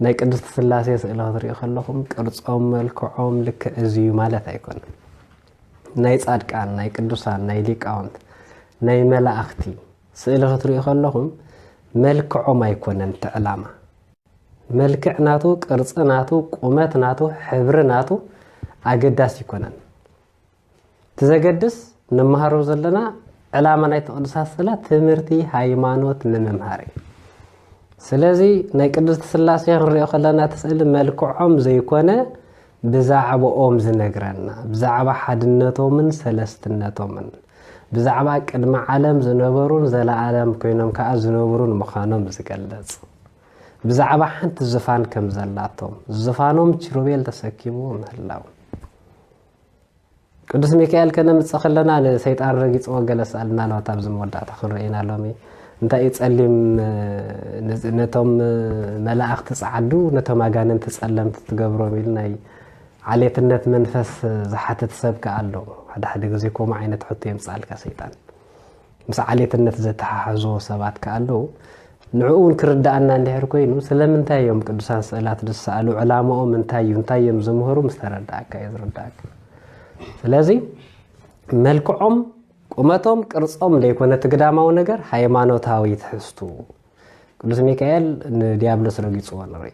ናይ ቅድስቲ ስላሴ ስእሊ ክትሪኡ ከለኹም ቅርጾም፣ መልክዖም ልክዕ እዚ እዩ ማለት ኣይኮነን። ናይ ጻድቃን ናይ ቅዱሳን ናይ ሊቃውንት ናይ መላእኽቲ ስእሊ ክትሪኡ ከለኹም መልክዖም ኣይኮነን እቲ ዕላማ መልክዕ ናቱ ቅርፂ ናቱ ቁመት ናቱ ሕብሪ ናቱ ኣገዳሲ ይኮነን እቲ ዘገድስ ንመሃሮ ዘለና ዕላማ ናይ ቅዱሳት ስእላት ትምህርቲ ሃይማኖት ንምምሃር እዩ ስለዚ ናይ ቅድስቲ ስላሴ ክንሪኦ ከለና እቲ ስእሊ መልክዖም ዘይኮነ ብዛዕብኦም ዝነግረና፣ ብዛዕባ ሓድነቶምን ሰለስትነቶምን፣ ብዛዕባ ቅድሚ ዓለም ዝነበሩን ዘለኣለም ኮይኖም ከኣ ዝነብሩን ምዃኖም ዝገልጽ፣ ብዛዕባ ሓንቲ ዝፋን ከም ዘላቶም፣ ዝፋኖም ኪሩቤል ተሰኪምዎ ምህላው፣ ቅዱስ ሚካኤል ከነምጽእ ከለና ንሰይጣን ረጊጽዎ ገለ ስኣል ምናልባት ኣብዚ መወዳእታ ክንርኢ ኢና ሎሚ እንታይ እዩ ጸሊም ነቶም መላእኽቲ ጸዓዱ ነቶም ኣጋንንቲ ጸለምቲ ትገብሮም ኢሉ ናይ ዓሌትነት መንፈስ ዝሓትት ሰብ ከኣ ኣሎ ሓደ ሓደ ግዜ ከምኡ ዓይነት ሕቶ የምጽኣልካ ሰይጣን ምስ ዓሌትነት ዘተሓሕዝዎ ሰባት ከኣ ኣለዉ። ንዕኡ እውን ክርድኣና እንድሕር ኮይኑ ስለምንታይ እዮም ቅዱሳን ስእላት ዝሰኣሉ ዕላማኦም እንታይ እዩ እንታይ እዮም ዝምህሩ ምስ ተረድኣካ እዩ ዝርድኣካ። ስለዚ መልክዖም ቁመቶም ቅርጾም ዘይኮነ እቲ ግዳማዊ ነገር ሃይማኖታዊ ትሕዝቱ ቅዱስ ሚካኤል ንዲያብሎስ ረጊፅዎ ንርኢ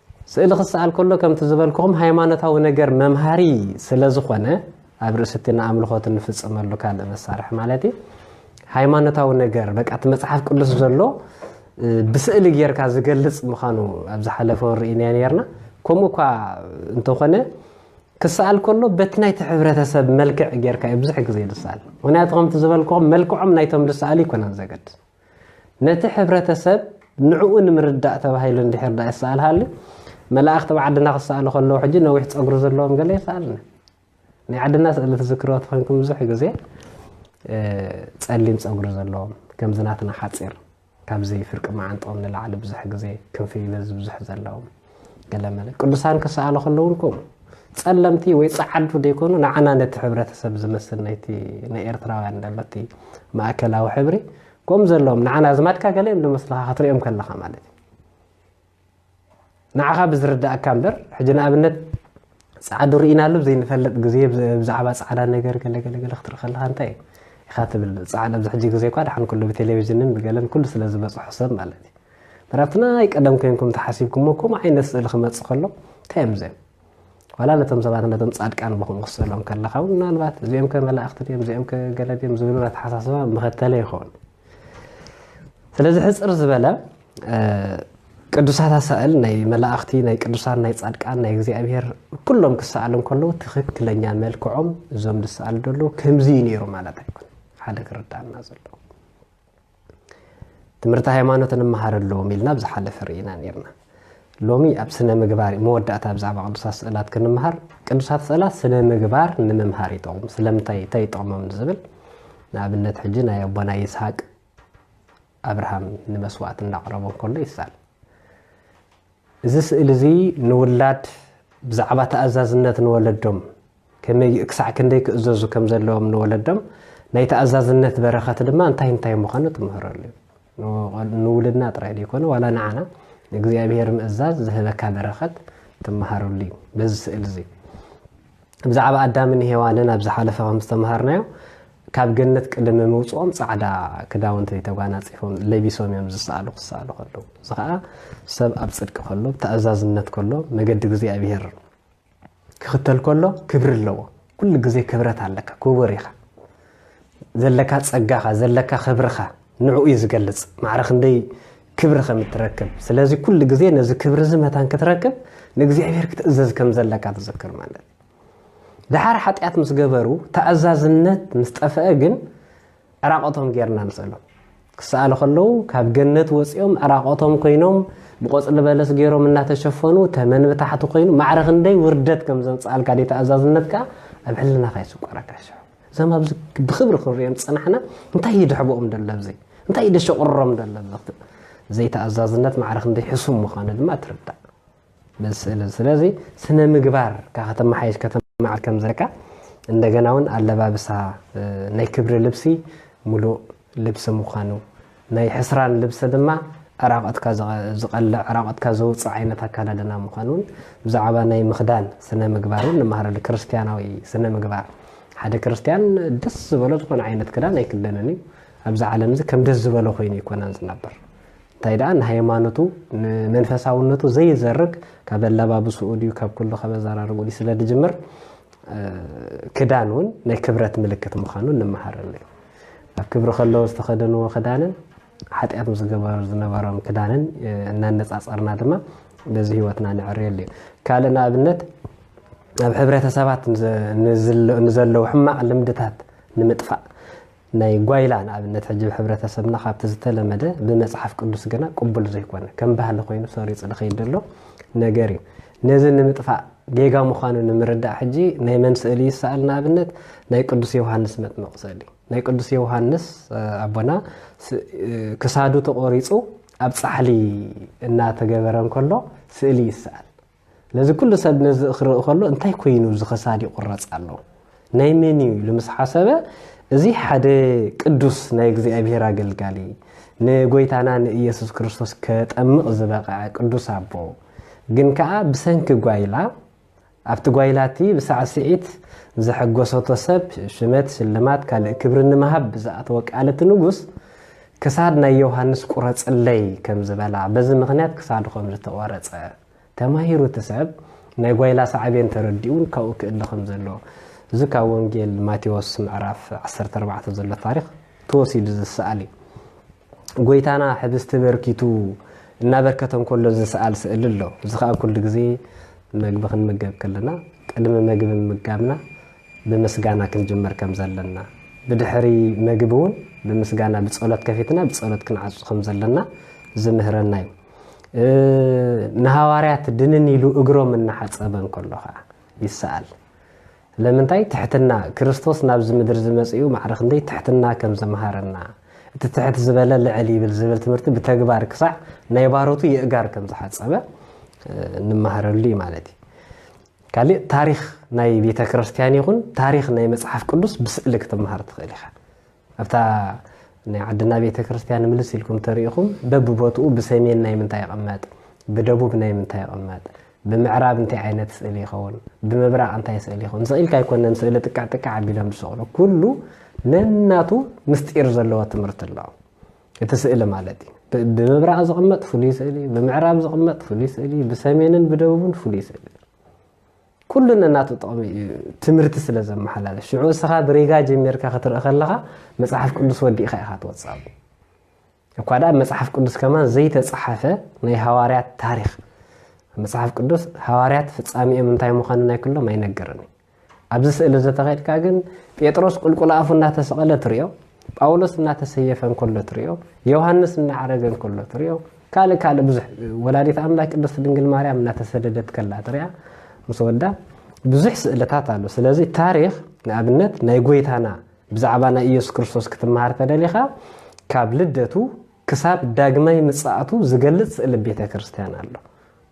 ስእሊ ክሰኣል ከሎ ከምቲ ዝበልኩኹም ሃይማኖታዊ ነገር መምሃሪ ስለ ዝኾነ ኣብ ርእሲ እቲ ንኣምልኾት እንፍጽመሉ ካልእ መሳርሒ ማለት እዩ ሃይማኖታዊ ነገር በቃ እቲ መጽሓፍ ቅዱስ ዘሎ ብስእሊ ጌርካ ዝገልጽ ምዃኑ ኣብ ዝሓለፈ ርኢናዮ ነርና ከምኡ እኳ እንተኾነ ክሰኣል ከሎ በቲ ናይቲ ሕብረተሰብ መልክዕ ጌርካ እዩ ብዙሕ ግዜ ዝሰኣል ምክንያቱ ከምቲ ዝበልክኹም መልክዖም ናይቶም ዝሰኣሉ ይኮነን ዘገድስ ነቲ ሕብረተሰብ ንዕኡ ንምርዳእ ተባሂሉ እንድሕር ድኣ ይሰኣልሃሉ መላእኽቲ ኣብ ዓድና ክሰኣሉ ከለዉ ሕጂ ነዊሕ ጸጉሪ ዘለዎም ገለ ይሰኣልና ናይ ዓድና ስእሊ ትዝክርዎ ተኾይንኩም ብዙሕ ግዜ ጸሊም ጸጉሪ ዘለዎም ከምዚ ናትና ሓጺር ካብዚ ፍርቂ መዓንጥኦም ንላዕሊ ብዙሕ ግዜ ክንፊ በዚ ብዙሕ ዘለዎም ገለመለ ቅዱሳን ክሰኣሉ ከለዉ ውን ከምኡ ጸለምቲ ወይ ጸዓዱ ዘይኮኑ ንዓና ነቲ ሕብረተሰብ ዝመስል ናይቲ ናይ ኤርትራውያን ደለቲ ማእከላዊ ሕብሪ ከምኡ ዘለዎም ንዓና ኣዝማድካ ገለዮም ዝመስልካ ክትሪኦም ከለኻ ማለት እዩ ንዓኻ ብዝርዳእካ እምበር ሕጂ ንኣብነት ፃዕዱ ርኢናሉ ዘይንፈልጥ ግዜ ብዛዕባ ፃዕዳ ነገር ገለገለገለ ክትርኢ ከለካ እንታይ እዩ ኢካ ትብል ፃዕዳ ኣብዚ ሕጂ ግዜ እኳ ድሓን ኩሉ ብቴሌቭዥንን ብገለን ኩሉ ስለ ዝበፅሖ ሰብ ማለት እዩ መራ ኣብቲ ናይ ቀደም ኮንኩም ተሓሲብኩሞ ከምኡ ዓይነት ስእሊ ክመፅእ ከሎ እንታይ እዮም እዚኦም ዋላ ነቶም ሰባት ነቶም ፃድቃን ብከምኡ ክስእሎም ከለካ እውን ምናልባት እዚኦም ከ መላእኽቲ ድዮም እዚኦም ከ ገለ ድዮም ዝብሉ ኣተሓሳስባ መኸተለ ይኸውን ስለዚ ሕፅር ዝበለ ቅዱሳት ኣሳእል ናይ መላእኽቲ ናይ ቅዱሳን ናይ ፃድቃን ናይ እግዚኣብሄር ኩሎም ክሰኣሉ ከለዉ ትኽክለኛ መልክዖም እዞም ዝሰኣሉ ደለዉ ከምዚ እዩ ነይሩ ማለት ኣይኮነ ሓደ ክርዳእና ዘለዎ ትምህርቲ ሃይማኖት እንመሃረሎም ኢልና ኣብ ዝሓለፈ ርኢና ነርና ሎሚ ኣብ ስነ ምግባር መወዳእታ ብዛዕባ ቅዱሳት ስእላት ክንምሃር ቅዱሳት ስእላት ስነ ምግባር ንምምሃር ይጠቕሙ ስለምንታይ እንታይ ይጠቕሞም ዝብል ንኣብነት ሕጂ ናይ ኣቦና ይስሃቅ ኣብርሃም ንመስዋእቲ እንዳቕረቦ ከሎ ይሳል እዚ ስእሊ እዚ ንውላድ ብዛዕባ ተኣዛዝነት ንወለዶም ከመይ ክሳዕ ክንደይ ክእዘዙ ከም ዘለዎም ንወለዶም ናይ ተኣዛዝነት በረኸት ድማ እንታይ እንታይ ምዃኑ ትምህረሉ ንውልድና ጥራይ ዘይኮነ ዋላ ንዓና ንእግዚኣብሔር ምእዛዝ ዝህበካ በረኸት ትመሃረሉ እዩ በዚ ስእሊ እዚ ብዛዕባ ኣዳምን ሄዋንን ኣብ ዝሓለፈ ከም ዝተምሃርናዮ ካብ ገነት ቅድሚ ምውፅኦም ፃዕዳ ክዳውንቲ ተጓናፂፎም ለቢሶም እዮም ዝሰኣሉ ክሰኣሉ ከለዉ እዚ ከዓ ሰብ ኣብ ፅድቂ ከሎ ተኣዛዝነት ከሎ መገዲ እግዚኣብሄር ክኽተል ከሎ ክብሪ ኣለዎ ኩሉ ግዜ ክብረት ኣለካ ክቡር ኢኻ ዘለካ ፀጋኻ ዘለካ ክብርኻ ንዕኡ እዩ ዝገልፅ ማዕረ ክንደይ ክብሪ ከም እትረክብ ስለዚ ኩሉ ግዜ ነዚ ክብሪ እዚ መታን ክትረክብ ንእግዚኣብሔር ክትእዘዝ ከም ዘለካ ትዝክር ማለት እዩ ድሓር ሓጢኣት ምስ ገበሩ ተኣዛዝነት ምስ ጠፍአ ግን ዕራቆቶም ጌርና ንስእሎም ክሰኣሉ ከለዉ ካብ ገነት ወፂኦም ዕራቆቶም ኮይኖም ብቆፅሊ በለስ ገይሮም እናተሸፈኑ ተመን ብታሕቲ ኮይኑ ማዕረ ክንደይ ውርደት ከም ዘምፅኣልካ ደ ተኣዛዝነትካ ኣብ ሕልናኻ ይስቆረካ ሽዑ እዞም ኣብዚ ብክብሪ ክንሪኦም ዝፀናሕና እንታይ እዩ ድሕበኦም ደሎ ኣብዚ እንታይ እዩ ደሸቁሮም ደሎ ኣብዚ ዘይተኣዛዝነት ማዕረ ክንደይ ሕሱም ምዃኑ ድማ ትርዳእ በዚ ስእሊ ስለዚ ስነ ምግባር ካብ ከተመሓየሽ ከተማዓል ከም ዘለካ እንደገና እውን ኣለባብሳ ናይ ክብሪ ልብሲ ሙሉእ ልብሲ ምዃኑ ናይ ሕስራን ልብሰ ድማ ዕራቐትካ ዝቐልዕ፣ ዕራቐትካ ዘውጽእ ዓይነት ኣካዳድና ምዃኑን ብዛዕባ ናይ ምኽዳን ስነ ምግባር እውን ንመሃረሉ፣ ክርስትያናዊ ስነ ምግባር። ሓደ ክርስትያን ደስ ዝበሎ ዝኾነ ዓይነት ክዳን ኣይክደንን እዩ። ኣብዚ ዓለም እዚ ከም ደስ ዝበሎ ኮይኑ ኣይኮነን ዝነብር። እንታይ ደኣ ንሃይማኖቱ ንመንፈሳውነቱ ዘይዘርግ ካብ ኣላባብስኡ ድዩ ካብ ኩሉ ካብ ኣዘራርብኡ ድዩ ስለ ዝጅምር ክዳን እውን ናይ ክብረት ምልክት ምዃኑ ንመሃረሉ እዩ። ኣብ ክብሪ ከለዉ ዝተኸደንዎ ክዳንን ሓጢኣት ምስ ዝገበሩ ዝነበሮም ክዳንን እናነፃፀርና ድማ በዚ ህይወትና ንዕርየሉ እዩ ካልእ ንኣብነት ኣብ ሕብረተሰባት ንዘለዉ ሕማቕ ልምድታት ንምጥፋእ ናይ ጓይላ ንኣብነት ሕጂ ሕብረተሰብና ካብቲ ዝተለመደ ብመፅሓፍ ቅዱስ ግና ቅቡል ዘይኮነ ከም ባህሊ ኮይኑ ሰሪፁ ዝኸይድ ዘሎ ነገር እዩ ነዚ ንምጥፋእ ጌጋ ምዃኑ ንምርዳእ ሕጂ ናይ መን ስእሊ ይሰኣል ንኣብነት ናይ ቅዱስ ዮውሃንስ መጥምቕ ስእሊ ናይ ቅዱስ ዮውሃንስ ኣቦና ክሳዱ ተቖሪጹ ኣብ ጻሕሊ እናተገበረ እንከሎ ስእሊ ይሰኣል ነዚ ኩሉ ሰብ ነዚ ክርኢ ከሎ እንታይ ኮይኑ እዚ ክሳድ ይቑረጽ ኣሎ ናይ መን እዩ ኢሉ ምስ ሓሰበ እዚ ሓደ ቅዱስ ናይ እግዚኣብሔር ኣገልጋሊ ንጎይታና ንኢየሱስ ክርስቶስ ከጠምቕ ዝበቐዐ ቅዱስ ኣቦ ግን ከኣ ብሰንኪ ጓይላ ኣብቲ ጓይላ እቲ ብሳዕስዒት ዘሐጎሰቶ ሰብ ሽመት ሽልማት ካልእ ክብሪ ንምሃብ ብዝኣተወ ቃል እቲ ንጉስ ክሳድ ናይ ዮሃንስ ቁረጽለይ ከም ዝበላ በዚ ምክንያት ክሳዱ ከም ዝተቆረጸ ተማሂሩ እቲ ሰብ ናይ ጓይላ ሳዕቤን ተረዲኡን ካብኡ ክእለ ከም ዘሎ እዚ ካብ ወንጌል ማቴዎስ ምዕራፍ ዓሰርተ ኣርባዕተ ዘሎ ታሪኽ ተወሲዱ ዝሰኣል እዩ። ጎይታና ሕብስቲ በርኪቱ እናበርከተ እንከሎ ዝሰኣል ስእሊ ኣሎ። እዚ ከዓ ኩሉ ግዜ መግቢ ክንምገብ ከለና ቅድሚ መግቢ ምምጋብና ብምስጋና ክንጅምር ከም ዘለና ብድሕሪ መግቢ እውን ብምስጋና ብጸሎት ከፊትና ብጸሎት ክንዓጹ ከም ዘለና ዝምህረና እዩ። ንሃዋርያት ድንን ኢሉ እግሮም እናሓፀበ እንከሎ ከዓ ይሰኣል ለምንታይ ትሕትና ክርስቶስ ናብዚ ምድሪ ዝመፅኡ ማዕረ ክንደይ ትሕትና ከም ዘምሃረና እቲ ትሕት ዝበለ ልዕል ይብል ዝብል ትምህርቲ ብተግባር ክሳዕ ናይ ባሮቱ የእጋር ከም ዝሓፀበ እንመሃረሉ እዩ ማለት እዩ ካልእ ታሪክ ናይ ቤተ ክርስትያን ይኹን ታሪክ ናይ መፅሓፍ ቅዱስ ብስእሊ ክትመሃር ትኽእል ኢኻ ኣብታ ናይ ዓድና ቤተ ክርስቲያን ምልስ ኢልኩም ተሪኢኹም በብቦትኡ ብሰሜን ናይ ምንታይ ይቕመጥ፣ ብደቡብ ናይ ምንታይ ይቕመጥ፣ ብምዕራብ እንታይ ዓይነት ስእሊ ይኸውን፣ ብምብራቕ እንታይ ስእሊ ይኸውን፣ ስቕ ኢልካ ኣይኮነን ስእሊ ጥቅዕ ጥቅዕ ኣቢሎም ዝሰቕሉ። ኩሉ ነናቱ ምስጢር ዘለዎ ትምህርቲ ኣሎ። እቲ ስእሊ ማለት እዩ። ብምብራቕ ዝቕመጥ ፍሉይ ስእሊ፣ ብምዕራብ ዝቕመጥ ፍሉይ ስእሊ፣ ብሰሜንን ብደቡብን ፍሉይ ስእሊ። ኩሉ ነናቱ ጥቕሚ እዩ ትምህርቲ ስለ ዘመሓላለፍ ሽዑ እስኻ ብሪጋ ጀሚርካ ክትርኢ ከለኻ መፅሓፍ ቅዱስ ወዲእኻ ኢኻ ትወፅእ እኳ ደኣ መፅሓፍ ቅዱስ ከማን ዘይተፀሓፈ ናይ ሃዋርያት ታሪክ መፅሓፍ ቅዱስ ሃዋርያት ፍፃሚኦም እንታይ ምዃኑ ናይ ክሎም ኣይነገርን እዩ ኣብዚ ስእሊ ዘተኸድካ ግን ጴጥሮስ ቁልቁል ኣፉ እናተሰቐለ ትሪኦ ጳውሎስ እናተሰየፈ እንከሎ ትሪኦ ዮሃንስ እናዓረገ እንከሎ ትሪኦ ካልእ ካልእ ብዙሕ ወላዲት ኣምላክ ቅድስት ድንግል ማርያም እናተሰደደት ከላ ጥሪያ ምስ ወዳ ብዙሕ ስእልታት ኣሎ ስለዚ ታሪክ ንኣብነት ናይ ጎይታና ብዛዕባ ናይ ኢየሱስ ክርስቶስ ክትመሃር ተደሊኻ ካብ ልደቱ ክሳብ ዳግማይ ምጽኣቱ ዝገልጽ ስእሊ ቤተ ክርስቲያን ኣሎ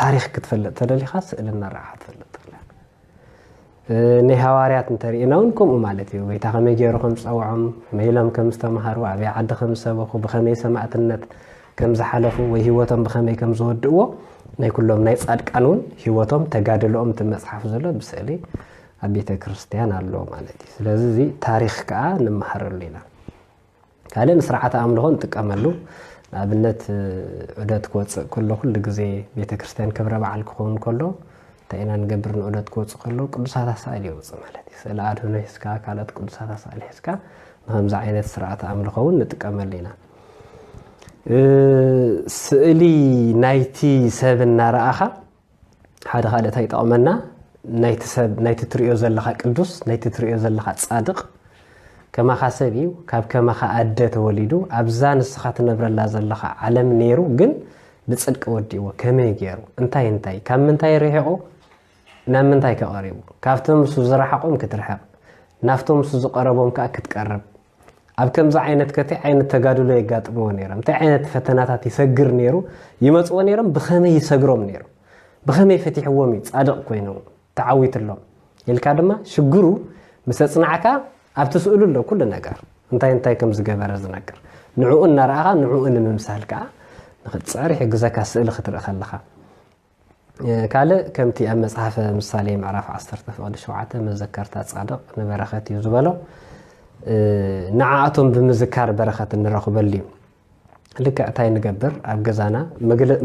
ታሪኽ ክትፈልጥ ተደሊኻ ስእሊ እናረኣኻ ትፈልጥ ኣለካ ናይ ሃዋርያት እንተሪእና እውን ከምኡ ማለት እዩ ጎይታ ከመይ ገይሩ ከም ዝፀውዖም ከመይ ኢሎም ከም ዝተምሃሩ ኣበይ ዓዲ ከም ዝሰበኹ ብኸመይ ሰማእትነት ከም ዝሓለፉ ወይ ህይወቶም ብኸመይ ከም ዝወድእዎ ናይ ኩሎም ናይ ፃድቃን እውን ህይወቶም ተጋድለኦም እቲ መፅሓፍ ዘሎ ብስእሊ ኣብ ቤተ ክርስቲያን ኣሎ ማለት እዩ ስለዚ እዚ ታሪክ ከዓ ንመሃረሉ ኢና ካልእ ንስርዓተ ኣምልኾ ንጥቀመሉ ንኣብነት ዑደት ክወፅእ ከሎ ኩሉ ግዜ ቤተ ክርስቲያን ክብረ በዓል ክኸውን ከሎ እንታይ ኢና ንገብር ንዑደት ክወፅእ ከሎ ቅዱሳት ኣሳእል የውፅእ ማለት እዩ ስእሊ ኣድህኖ ሒዝካ ካልኦት ቅዱሳት ኣሳእል ሒዝካ ንከምዚ ዓይነት ስርዓተ ኣምልኾ እውን ንጥቀመሉ ኢና ስእሊ ናይቲ ሰብ እናረኣኻ ሓደ ካልእ እንታይ ይጠቕመና ናይቲ ሰብ ናይቲ ትሪኦ ዘለኻ ቅዱስ ናይቲ ትሪኦ ዘለኻ ጻድቕ ከማኻ ሰብ እዩ ካብ ከማኻ ኣደ ተወሊዱ ኣብዛ ንስኻ ትነብረላ ዘለኻ ዓለም ነይሩ ግን ብጽድቂ ወዲእዎ ከመይ ገይሩ እንታይ እንታይ ካብ ምንታይ ርሒቑ ናብ ምንታይ ከቐሪቡ ካብቶም ምስ ዝረሓቖም ክትርሕቕ ናፍቶም ምስ ዝቐረቦም ከዓ ክትቀርብ ኣብ ከምዚ ዓይነት ከ ታይ ዓይነት ተጋድሎ የጋጥምዎ ነይሮም ታይ ዓይነት ፈተናታት ይሰግር ነይሩ ይመፅዎ ነይሮም ብኸመይ ይሰግሮም ነይሩ ብኸመይ ፈቲሕዎም እዩ ፃድቕ ኮይኑ ተዓዊትሎም ኢልካ ድማ ሽግሩ ምስ ኣፅናዕካ ኣብቲ ስእሉ ኣሎ ኩሉ ነገር እንታይ እንታይ ከም ዝገበረ ዝነግር ንዕኡ እናረኣኻ ንዕኡ ንምምሳል ከዓ ንክትፅዕር ይሕግዘካ ስእሊ ክትርኢ ከለኻ ካልእ ከምቲ ኣብ መጽሓፈ ምሳሌ ምዕራፍ ዓሰርተ ፍቕዲ ሸውዓተ መዘከርታ ጻድቕ ንበረኸት እዩ ዝበሎ ንዓኣቶም ብምዝካር በረኸት እንረኽበሉ እዩ ልክዕ እንታይ ንገብር ኣብ ገዛና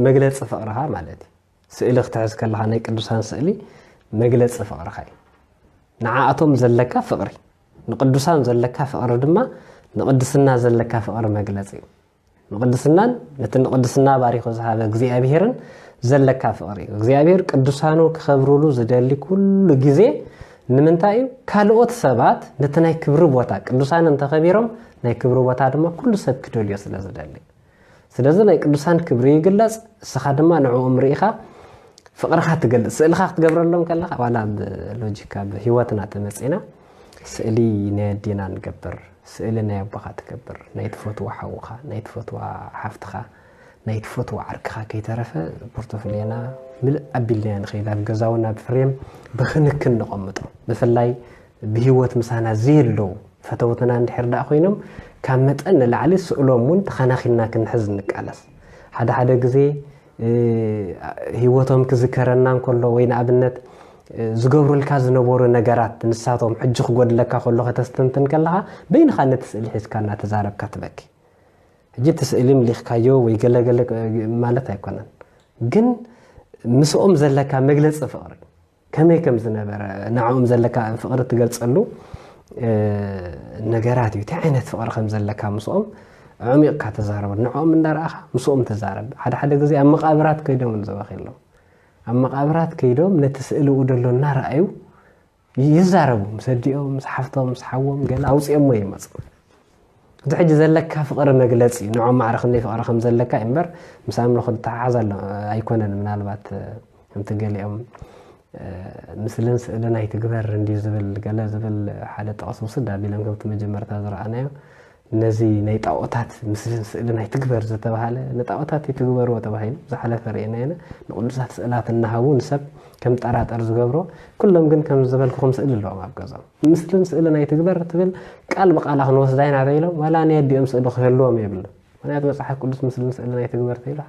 መግለፂ ፍቕርኻ ማለት እዩ ስእሊ ክትሕዝ ከለኻ ናይ ቅዱሳን ስእሊ መግለፂ ፍቕርኻ እዩ ንዓኣቶም ዘለካ ፍቕሪ ንቅዱሳን ዘለካ ፍቕሪ ድማ ንቅድስና ዘለካ ፍቕሪ መግለፂ እዩ ንቕድስናን ነቲ ንቕድስና ባሪኹ ዝሃበ እግዚኣብሄርን ዘለካ ፍቕሪ እዩ እግዚኣብሄር ቅዱሳኑ ክኸብርሉ ዝደሊ ኩሉ ግዜ ንምንታይ እዩ ካልኦት ሰባት ነቲ ናይ ክብሪ ቦታ ቅዱሳን እንተኸቢሮም ናይ ክብሪ ቦታ ድማ ኩሉ ሰብ ክደልዮ ስለ ዝደሊ ስለዚ ናይ ቅዱሳን ክብሪ ይግለጽ እስኻ ድማ ንዕኦም ርኢኻ ፍቕርኻ ትገልጽ ስእልኻ ክትገብረሎም ከለኻ ዋላ ብሎጂካ ብሂወትና ተመፂና ስእሊ ናይ ኣዴና ንገብር ስእሊ ናይ ኣቦኻ ትገብር፣ ናይ ትፈትዎ ሓውኻ፣ ናይ ትፈትዋ ሓፍትኻ፣ ናይ ትፈትዎ ዓርክኻ ከይተረፈ ፖርቶፍልዮና ምልእ ኣቢልናዮ ንኸይድ። ኣብ ገዛ እውን ኣብ ፍሬም ብክንክን ነቐምጦ። ብፍላይ ብህይወት ምሳና ዘየለዉ ፈተውትና እንድሕር ደኣ ኮይኖም ካብ መጠን ንላዕሊ ስእሎም እውን ተኸናኺንና ክንሕዝ ንቃለስ። ሓደ ሓደ ግዜ ህይወቶም ክዝከረና እንከሎ ወይ ንኣብነት ዝገብሩልካ ዝነበሩ ነገራት ንሳቶም ሕጂ ክጎድለካ ከሎ ከተስተንትን ከለኻ በይንኻ ነቲ ስእሊ ሒዝካ እናተዛረብካ ትበኪ ሕጂ እቲ ስእሊ ምሊኽካዮ ወይ ገለገለ ማለት ኣይኮነን ግን ምስኦም ዘለካ መግለፂ ፍቕሪ ከመይ ከም ዝነበረ ንዕኦም ዘለካ ፍቕሪ እትገልጸሉ ነገራት እዩ እንታይ ዓይነት ፍቕሪ ከም ዘለካ ምስኦም ዕሚቕካ ተዛረቡ ንዕኦም እንዳረኣኻ ምስኦም ተዛረብ ሓደ ሓደ ግዜ ኣብ መቓብራት ከይዶም ንዘበኺ ኣለዉ ኣብ መቓብራት ከይዶም ነቲ ስእልኡ ደሎ እናረኣዩ ይዛረቡ ምስ ኣዲኦም ምስ ሓፍቶም ምስ ሓዎም ገለ ኣውፅኦሞ ይመፁ እቲ ሕጂ ዘለካ ፍቕሪ መግለጺ ንዖም ማዕረ ክንደይ ፍቕሪ ከም ዘለካ እዩ እምበር ምስ ኣምልኾ ዝተሓሓዝ ኣሎ ኣይኮነን ምናልባት ከምቲ ገሊኦም ምስልን ስእልን ኣይትግበር እንዲዩ ዝብል ገለ ዝብል ሓደ ጥቕስ ውስድ ኣቢሎም ከምቲ መጀመርታ ዝረኣናዮ ነዚ ናይ ጣዖታት ምስልን ስእልን ኣይትግበር ዝተባሃለ ንጣዖታት ይትግበርዎ ተባሂሉ ዝሓለፈ ርእና ኢና ንቅዱሳት ስእላት እናሃቡ ንሰብ ከም ጠራጠር ዝገብሮ ኩሎም ግን ከም ዝበልኩ ከም ስእሊ ኣለዎም ኣብ ገዛም ምስልን ስእልን ኣይትግበር ትብል ቃል ብቃላ ክንወስዳ ኢና ተኢሎም ዋላ ናይ ኣዲኦም ስእሊ ክህልዎም የብሉ ምክንያቱ መፅሓፍ ቅዱስ ምስልን ስእልን ኣይትግበር ተኢላ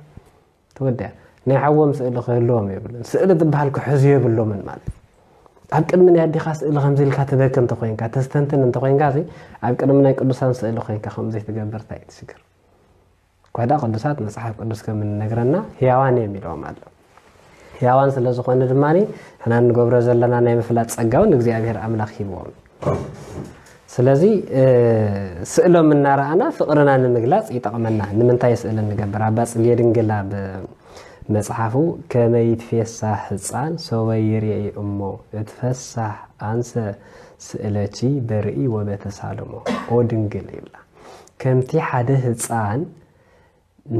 ተወዲያ ናይ ሓዎም ስእሊ ክህልዎም የብሉን ስእሊ ዝበሃል ክሕዙ የብሎምን ማለት ኣብ ቅድሚ ናይ ኣዴኻ ስእሊ ከምዚ ኢልካ ትበኪ እንተኮይንካ ተስተንትን እንተኮይንካ ኣብ ቅድሚ ናይ ቅዱሳን ስእሊ ኮይንካ ከምዘይ ትገብር እንታይ እዩ ትሽግር ኳዳ ቅዱሳት መጽሓፍ ቅዱስ ከም እንነግረና ህያዋን እዮም ኢለዎም ኣሎ ህያዋን ስለ ዝኾነ ድማ ሕና እንገብሮ ዘለና ናይ ምፍላጥ ጸጋውን እግዚኣብሔር ኣምላኽ ሂብዎም ስለዚ ስእሎም እናረኣና ፍቕርና ንምግላጽ ይጠቕመና ንምንታይ ስእሊ ንገብር ኣባ ጽጌ ድንግል ኣብ መጽሓፉ ከመይ ትፌሳሕ ህፃን ሶበ ይርኢ እሞ እትፈሳሕ ኣንሰ ስእለቺ በርኢ ወበተሳልሞ ኦ ድንግል ይብላ ከምቲ ሓደ ህጻን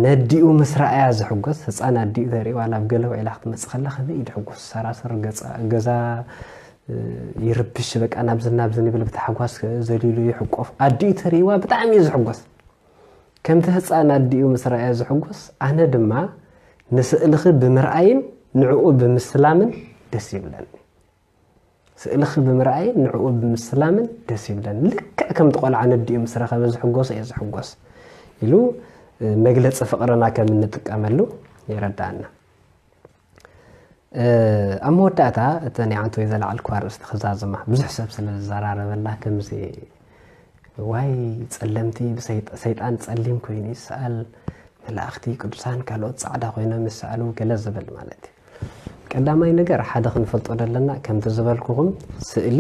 ነዲኡ ምስ ረኣያ ዝሕጎስ ህጻን ኣዲኡ ተርኢ ዋላ ኣብ ገለ ውዒላ ክትመጽእ ከላ ከመይ እዩ ድሕጎስ ሰራስር ገዛ ይርብሽ በቃ ናብዚ ናብዚ ንብል ብታሕጓስ ዘሊሉ ይሕቆፍ ኣዲኡ ተርእዋ ብጣዕሚ እዩ ዝሕጎስ ከምቲ ህፃን ኣዲኡ ምስ ረኣያ ዝሕጎስ ኣነ ድማ ንስእልኺ ብምርኣይን ንዕኡ ብምስላምን ደስ ይብለኒ ስእልኺ ብምርኣይን ንዕኡ ብምስላምን ደስ ይብለኒ። ልክዕ ከምቲ ቆልዓ ነዲኡ ምስ ረኸበ ዝሕጎሶ እየ ዝሕጎስ ኢሉ መግለፂ ፍቕርና ከም እንጥቀመሉ የረድኣና። ኣብ መወዳእታ እቲ ናይ ዓንተ ወይ ዘለዓልኩ ኣርእስቲ ክዛዝማ ብዙሕ ሰብ ስለ ዝዘራረበላ ከምዚ ዋይ ጸለምቲ ሰይጣን ጸሊም ኮይኑ ይሰኣል መላእኽቲ ቅዱሳን ካልኦት ጻዕዳ ኮይኖም ይሰኣሉ ገለ ዝብል ማለት እዩ ቀዳማይ ነገር ሓደ ክንፈልጦ ዘለና ከምቲ ዝበልኩኹም ስእሊ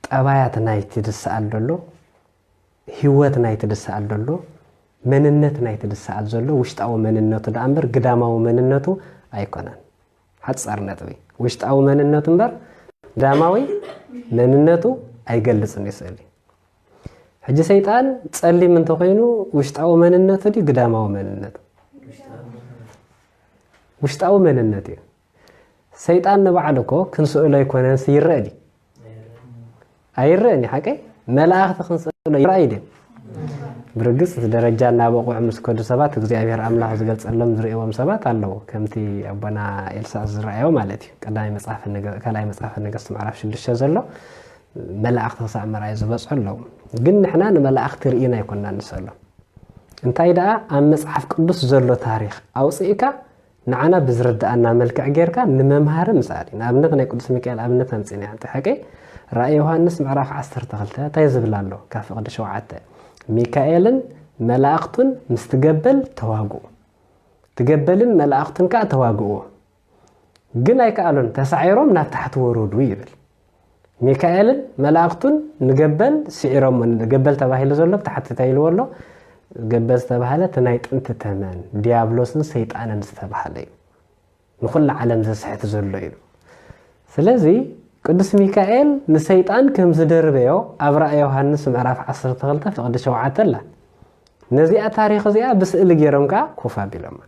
ጠባያት ናይቲ ዝሰኣል ዘሎ ህይወት ናይቲ ዝሰኣል ዘሎ መንነት ናይቲ ዝሰኣል ዘሎ ውሽጣዊ መንነቱ ደኣ እምበር ግዳማዊ መንነቱ ኣይኮነን። ሓፃር ነጥቢ ውሽጣዊ መንነቱ እምበር ዳማዊ መንነቱ ኣይገልፅን እዩ ስእሊ ሕጂ ሰይጣን ጸሊም እንተኾይኑ ውሽጣዊ መንነቱ ድዩ ግዳማዊ መንነቱ? ውሽጣዊ መንነት እዩ። ሰይጣን ንባዕሉ እኮ ክንስእሎ ኣይኮነንስ ይረአ ድዩ? ኣይረአን እዩ ሓቀይ መላእኽቲ ክንስእሎ ይረኣዩ ድዮም? ብርግጽ እቲ ደረጃ እናበቑዑ ምስ ከዱ ሰባት እግዚኣብሔር ኣምላኽ ዝገልጸሎም ዝርእዎም ሰባት ኣለዉ ከምቲ ኣቦና ኤልሳ ዝረኣዮ ማለት እዩ ቀዳማይ መጽሓፍ ካልኣይ መጽሓፍ ነገስት ምዕራፍ ሽዱሽተ ዘሎ መላእክቲ ክሳዕ ምርኣይ ዝበጽሑ ኣለዉ። ግን ንሕና ንመላእክቲ ርኢና ኣይኮናን ንሰሎም። እንታይ ደኣ ኣብ መጽሓፍ ቅዱስ ዘሎ ታሪኽ ኣውጽእካ ንዓና ብዝርድኣና መልክዕ ጌርካ ንመምሃሪ ምሳሌ ንኣብነት ናይ ቅዱስ ሚካኤል ኣብነት ኣምጺና ሓንቲ ሓቂ ራእይ ዮሃንስ ምዕራፍ 12 እንታይ ዝብል ኣሎ ካብ ፍቕዲ ሸውዓተ ሚካኤልን መላእኽቱን ምስ ትገበል ተዋግኡ ትገበልን መላእኽቱን ከዓ ተዋግእዎ ግን ኣይከኣሉን፣ ተሳዒሮም ናብ ታሕቲ ወረዱ ይብል። ሚካኤልን መላእኽቱን ንገበል ስዒሮሞ፣ ገበል ተባሂሉ ዘሎ ብታሕቲ እንታይ ኢልዎ ኣሎ? ገበል ዝተባህለ እቲ ናይ ጥንቲ ተመን ዲያብሎስን ሰይጣንን ዝተባህለ እዩ። ንኹላ ዓለም ዘስሕት ዘሎ እዩ። ስለዚ ቅዱስ ሚካኤል ንሰይጣን ከም ዝደርበዮ ኣብ ራእይ ዮሃንስ ምዕራፍ 12 ፍቕዲ 7 ኣላ ነዚኣ ታሪኽ እዚኣ ብስእሊ ገይሮም ከዓ ኮፍ ኣቢሎማ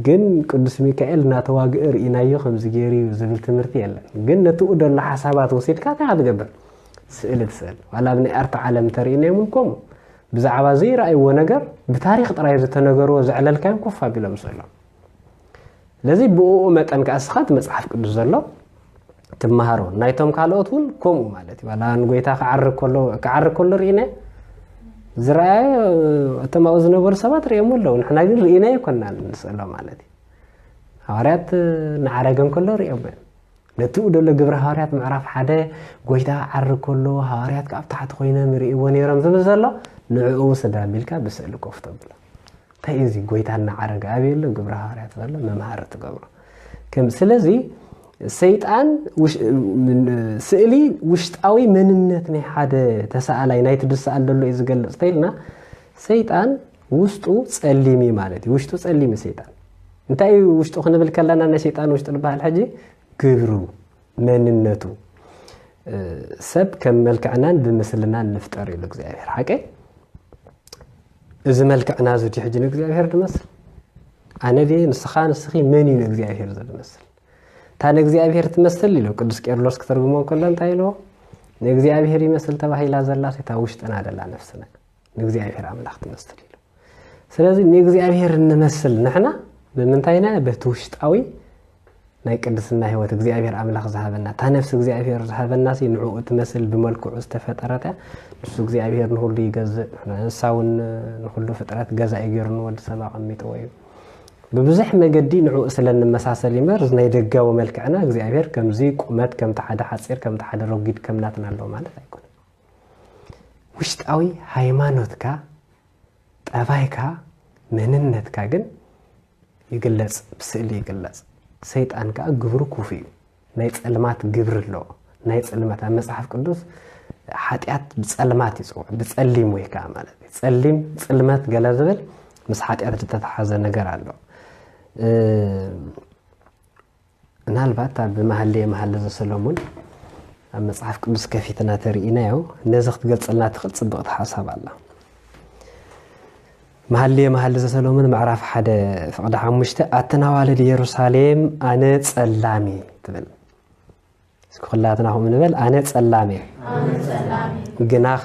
ግን ቅዱስ ሚካኤል እናተዋግእ ርኢናዮ ከምዚ ገይሩ እዩ ዝብል ትምህርቲ የለን ግን ነቲ ደሎ ሓሳባት ወሲድካ እንታይ ክትገብር ስእሊ ትስእል ዋላ ኣብ ናይ ኣርት ዓለም ተርእናዮም እውን ከምኡ ብዛዕባ ዘይረኣይዎ ነገር ብታሪክ ጥራይ ዝተነገርዎ ዘዕለልካዮም ኮፍ ኣቢሎም ስእሎም ስለዚ ብኡ መጠን ከዓ ስኻት መፅሓፍ ቅዱስ ዘሎ ትመሃሮ ናይቶም ካልኦት እውን ከምኡ ማለት እዩ ዋላ ንጎይታ ክዓርግ ከሎ ክዓርግ ከሎ ርኢነ ዝረኣየ እቶም ኣብኡ ዝነበሩ ሰባት ርእየሞ ኣለዉ ንሕና ግን ርኢነ ይኮና ንስእሎ ማለት እዩ ሃዋርያት ንዓረገ ከሎ ርእየሞ እዮም ነቲ ደሎ ግብረ ሃዋርያት ምዕራፍ ሓደ ጎይታ ዓርግ ከሎ ሃዋርያት ካብ ታሕቲ ኮይኖም ይርእይዎ ነይሮም ዝብል ዘሎ ንዕኡ ስዳ ሚልካ ብስእሊ ኮፍ ተብሎ እንታይ እዩ እዚ ጎይታ እናዓረገ ኣበየሎ ግብረ ሃዋርያት ዘሎ መምሃሪ ትገብሮ ስለዚ ሰይጣን ስእሊ ውሽጣዊ መንነት ናይ ሓደ ተሰኣላይ ናይቲ ዝሰኣል ዘሎ እዩ ዝገልፅ ተይልና ሰይጣን ውስጡ ፀሊም እዩ ማለት እዩ ውሽጡ ፀሊም እዩ ሰይጣን እንታይ እዩ ውሽጡ ክንብል ከለና ናይ ሰይጣን ውሽጡ ንበሃል ሕጂ ግብሩ መንነቱ ሰብ ከም መልክዕናን ብምስልናን ንፍጠር ኢሉ እግዚኣብሔር ሓቀ እዚ መልክዕና እዚ ድዩ ሕጂ ንእግዚኣብሄር ዝመስል ኣነ ድየ ንስኻ ንስኺ መን እዩ ንእግዚኣብሄር ዝመስል እታ ንእግዚኣብሄር ትመስል ኢሉ ቅዱስ ቄርሎስ ክተርጉሞ ከሎ እንታይ ኢልዎ ንእግዚኣብሄር ይመስል ተባሂላ ዘላ እታ ውሽጥና ደላ ነፍስና ንእግዚኣብሄር ኣምላኽ ትመስል ኢሉ ስለዚ ንእግዚኣብሄር እንመስል ንሕና ብምንታይና በቲ ውሽጣዊ ናይ ቅድስና ህይወት እግዚኣብሔር ኣምላኽ ዝሃበና እታ ነፍሲ እግዚኣብሔር ዝሃበና ሲ ንዕኡ እትመስል ብመልክዑ ዝተፈጠረት እያ ንሱ እግዚኣብሔር ንኹሉ ይገዝእ ንሳ እውን ንኹሉ ፍጥረት ገዛኢ ገይሩ ንወዲ ሰብ ኣቐሚጥዎ እዩ ብብዙሕ መገዲ ንዕኡ ስለ እንመሳሰል ይምበር እዚ ናይ ደጋዊ መልክዕና እግዚኣብሔር ከምዚ ቁመት ከምቲ ሓደ ሓፂር ከምቲ ሓደ ረጒድ ከምናትና ኣለዎ ማለት ኣይኮነ ውሽጣዊ ሃይማኖትካ ጠባይካ መንነትካ ግን ይግለጽ ብስእሊ ይግለጽ ሰይጣን ከኣ ግብሩ ኩፉ እዩ ናይ ጸልማት ግብሪ ኣለዎ ናይ ጽልመት ኣብ መጽሓፍ ቅዱስ ሓጢኣት ብጸልማት ይጽውዕ ብጸሊም ወይ ከዓ ማለት እዩ ጸሊም ጽልመት ገለ ዝብል ምስ ሓጢኣት ዝተተሓዘ ነገር ኣሎ ምናልባት ኣብ መሃልየ መሃሊ ዘሰሎሙን ኣብ መጽሓፍ ቅዱስ ከፊትና ተርኢናዮ ነዚ ክትገልጸልና ትኽእል ጽብቕቲ ሓሳብ ኣላ መሃልየ መሃሊ ዘሰሎሙን ምዕራፍ ሓደ ፍቕዲ ሓሙሽተ ኣተናዋልድ ኢየሩሳሌም ኣነ ጸላሚ ትብል እስኪ ኩላትና ከምኡ ንበል ኣነ ጸላም እየ ግናኸ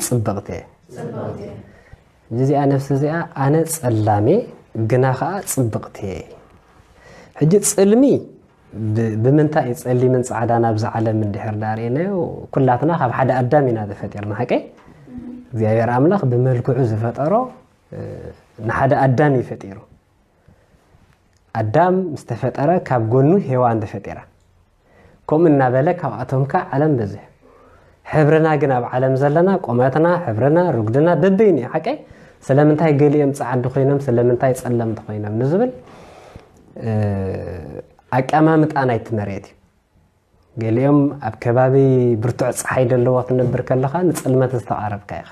ጽብቕቲ እየ እዚኣ ነፍሲ እዚኣ ኣነ ጸላም እየ ግና ከዓ ጽብቕቲ እየ ሕጂ ጽልሚ ብምንታይ እዩ ጸሊምን ፃዕዳን ኣብዚ ዓለም እንድሕር ዳርእናዮ ኩላትና ካብ ሓደ ኣዳም ኢና ተፈጢርና ሓቂ እግዚኣብሔር ኣምላኽ ብመልክዑ ዝፈጠሮ ንሓደ ኣዳም እዩ ፈጢሩ ኣዳም ምስ ተፈጠረ ካብ ጎኑ ሄዋን ተፈጢራ። ከምኡ እናበለ ካብኣቶም ከ ዓለም በዝሑ። ሕብርና ግን ኣብ ዓለም ዘለና ቁመትና፣ ሕብርና፣ ርጉድና በበይኑ እዩ ሓቀይ። ስለምንታይ ገሊኦም ጸዓዱ ኮይኖም ስለምንታይ ጸለምቲ ኮይኖም ንዝብል ኣቀማምጣ ናይቲ መሬት እዩ። ገሊኦም ኣብ ከባቢ ብርቱዕ ጸሓይ ደለዎ ክትነብር ከለኻ ንጽልመት ዝተቓረብካ ኢኻ።